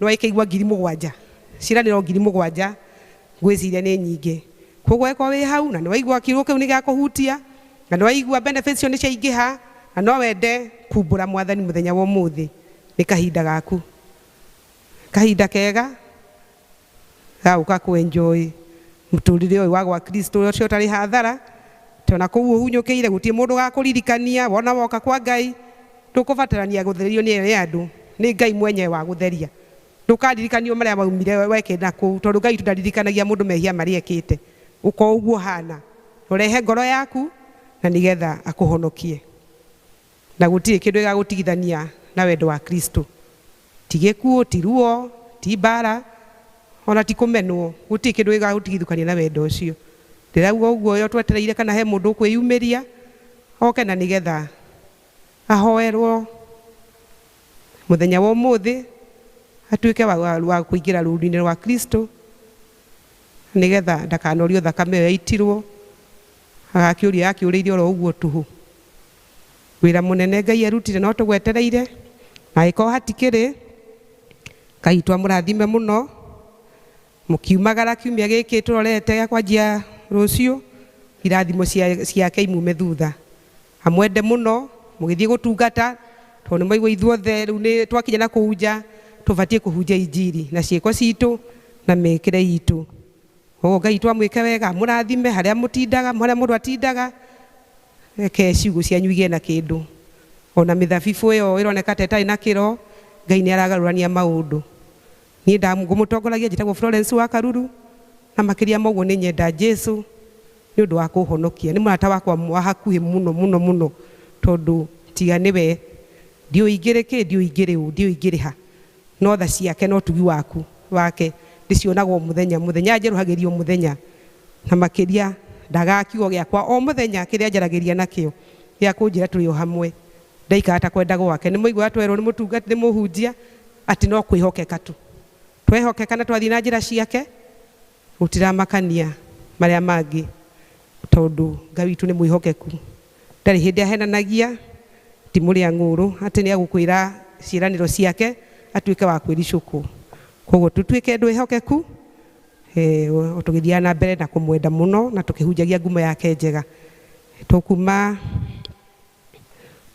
nĩ wakĩigua ngiri mũgwanja, ciĩranĩro ngiri mũgwanja ngwĩciria nĩ nyingĩ. Kwoguo angĩkorwo wĩ hau na nĩ waigua kiugo kĩu nĩ gĩakũhutia, na nĩ waigua benefits icio nĩ ciaingĩha, na no wende kumbũra Mwathani mũthenya wa ũmũthĩ, nĩ kahinda gaku. Kahinda kega. gagũka kũ enjoy mũtũrĩre ũyũ wa gwa Kristo ũrĩa ũcio ũtarĩ hathara, tondũ ona kũu ũhunyũkĩire gũtirĩ mũndũ ũgakũririkania, wona woka kwa Ngai ndũkũbatarania gũtherio nĩ andũ, nĩ Ngai mwenyewe wagũtheria. Ndũkaririkanio marĩa waumire wekĩte na kũu, tondũ Ngai witũ ndaririkanagia mũndũ mehia marĩa ekĩte. Ũka o ũguo ũhana, na ũrehe ngoro yaku na nĩgetha akũhonokie. Na gũtirĩ kĩndũ gĩgagũtigithania na wendo wa Kristo. Ti gĩkuũ, ti ruo, ti mbaara, o na ti kũmenwo, gũtirĩ kĩndũ gĩgagũtigithũkania na wendo ũcio. Ndĩraigua o guoya ũtwetereire kana he mũndũ ũkwĩyumĩria oke na nĩgetha ahoerwo mũthenya wa ũmũthĩ atuĩke wa kũingĩra rũũru-inĩ rwa Kristo nĩgetha ndakanorio thakame ĩyo yaitirwo, agakĩũrio yakĩũrĩire oro ũguo tũhũ. Wĩra mũnene Ngai arutire no tũgwetereire, na angĩkorwo hatikĩrĩ, Ngai to amũrathime mũno, mũkiumagara kiumia gĩkĩ tũrorete gĩa kwanjia rũciũ, irathimo ciake imume thutha. Amwende mũno, mũgĩthiĩ gũtungata, tondũ nĩ mwaigua ithuothe rĩu twakinya na kũu nja, tũbatiĩ kũhunjia injiri na ciĩko citũ na mĩkĩre itũ. Koguo Ngai to amwĩke wega, amũrathime harĩa mũtindaga, harĩa mũndũ atindaga. Reke ciugo cianyu igĩe na kĩndũ. O na mĩthabibũ ĩyo ĩroneka ta ĩtarĩ na kĩro, Ngai nĩ aragarũrania maũndũ. Niĩ nda ngũmũtongoragia, njĩtagwo Florence wa Karuru, na makĩria ma ũguo nĩ nyenda Jesu nĩ ũndũ wa kũũhonokia. Nĩ mũrata wakwa wa hakuhĩ mũno mũno mũno tondũ tiga nĩwe, ndiũĩ ingĩrĩ kĩ, ndiũĩ ingĩrĩ ũ, ndiũĩ ingĩrĩ ha. No tha ciake na ũtugi waku, wake, ndĩcionaga o mũthenya, mũthenya anjerũhagĩria o mũthenya, na makĩria ndagaga kiugo gĩakwa o mũthenya, kĩrĩa anjaragĩria nakĩo, gĩa kũnjĩra tũrĩ o hamwe, ndaikara ta kwenda gwake. Nĩ mwaigua twerwo nĩ mũtungati, nĩ mũhunjia, atĩ no kwĩhokeka tu. Twehokeka na twathiĩ na njĩra ciake, Gũtiramakania marĩa mangĩ tondũ Ngai witũ nĩ mwĩhokeku. Ndarĩ hĩndĩ ahenanagia, ti mũrĩa ng'ũũrũ atĩ nĩ egũkwĩra ciĩranĩro ciake atuĩke wa kwĩricũkwo. Kwoguo tũtuĩke andũ ehokeku tũgĩthiaga na mbere na kũmwenda mũno na tũkĩhunjagia ngumo yake njega. Tũkuma,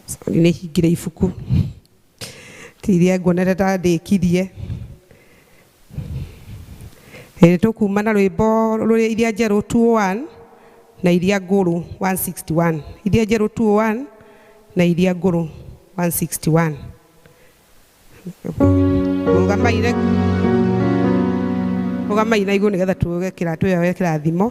sorry nĩ hingĩre ibuku. tiria nguonete ta ndĩkirie ĩrĩ tũkuma na rwĩmbo rũrĩ iria njerũ 201 na iria ngũrũ 161 iria njerũ 201 na iria ngũrũ 161 rũgamaire rũgamaire igũrũ nĩgetha tuge kĩratũ ĩyo ya kĩrathimo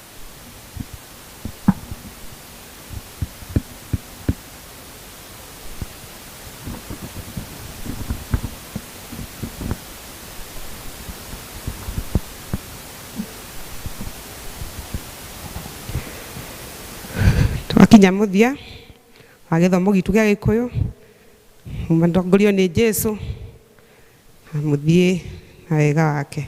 twakinya muthia wa githomo gitu gia gikuyu mutongorio ni jesu na muthie na wega wake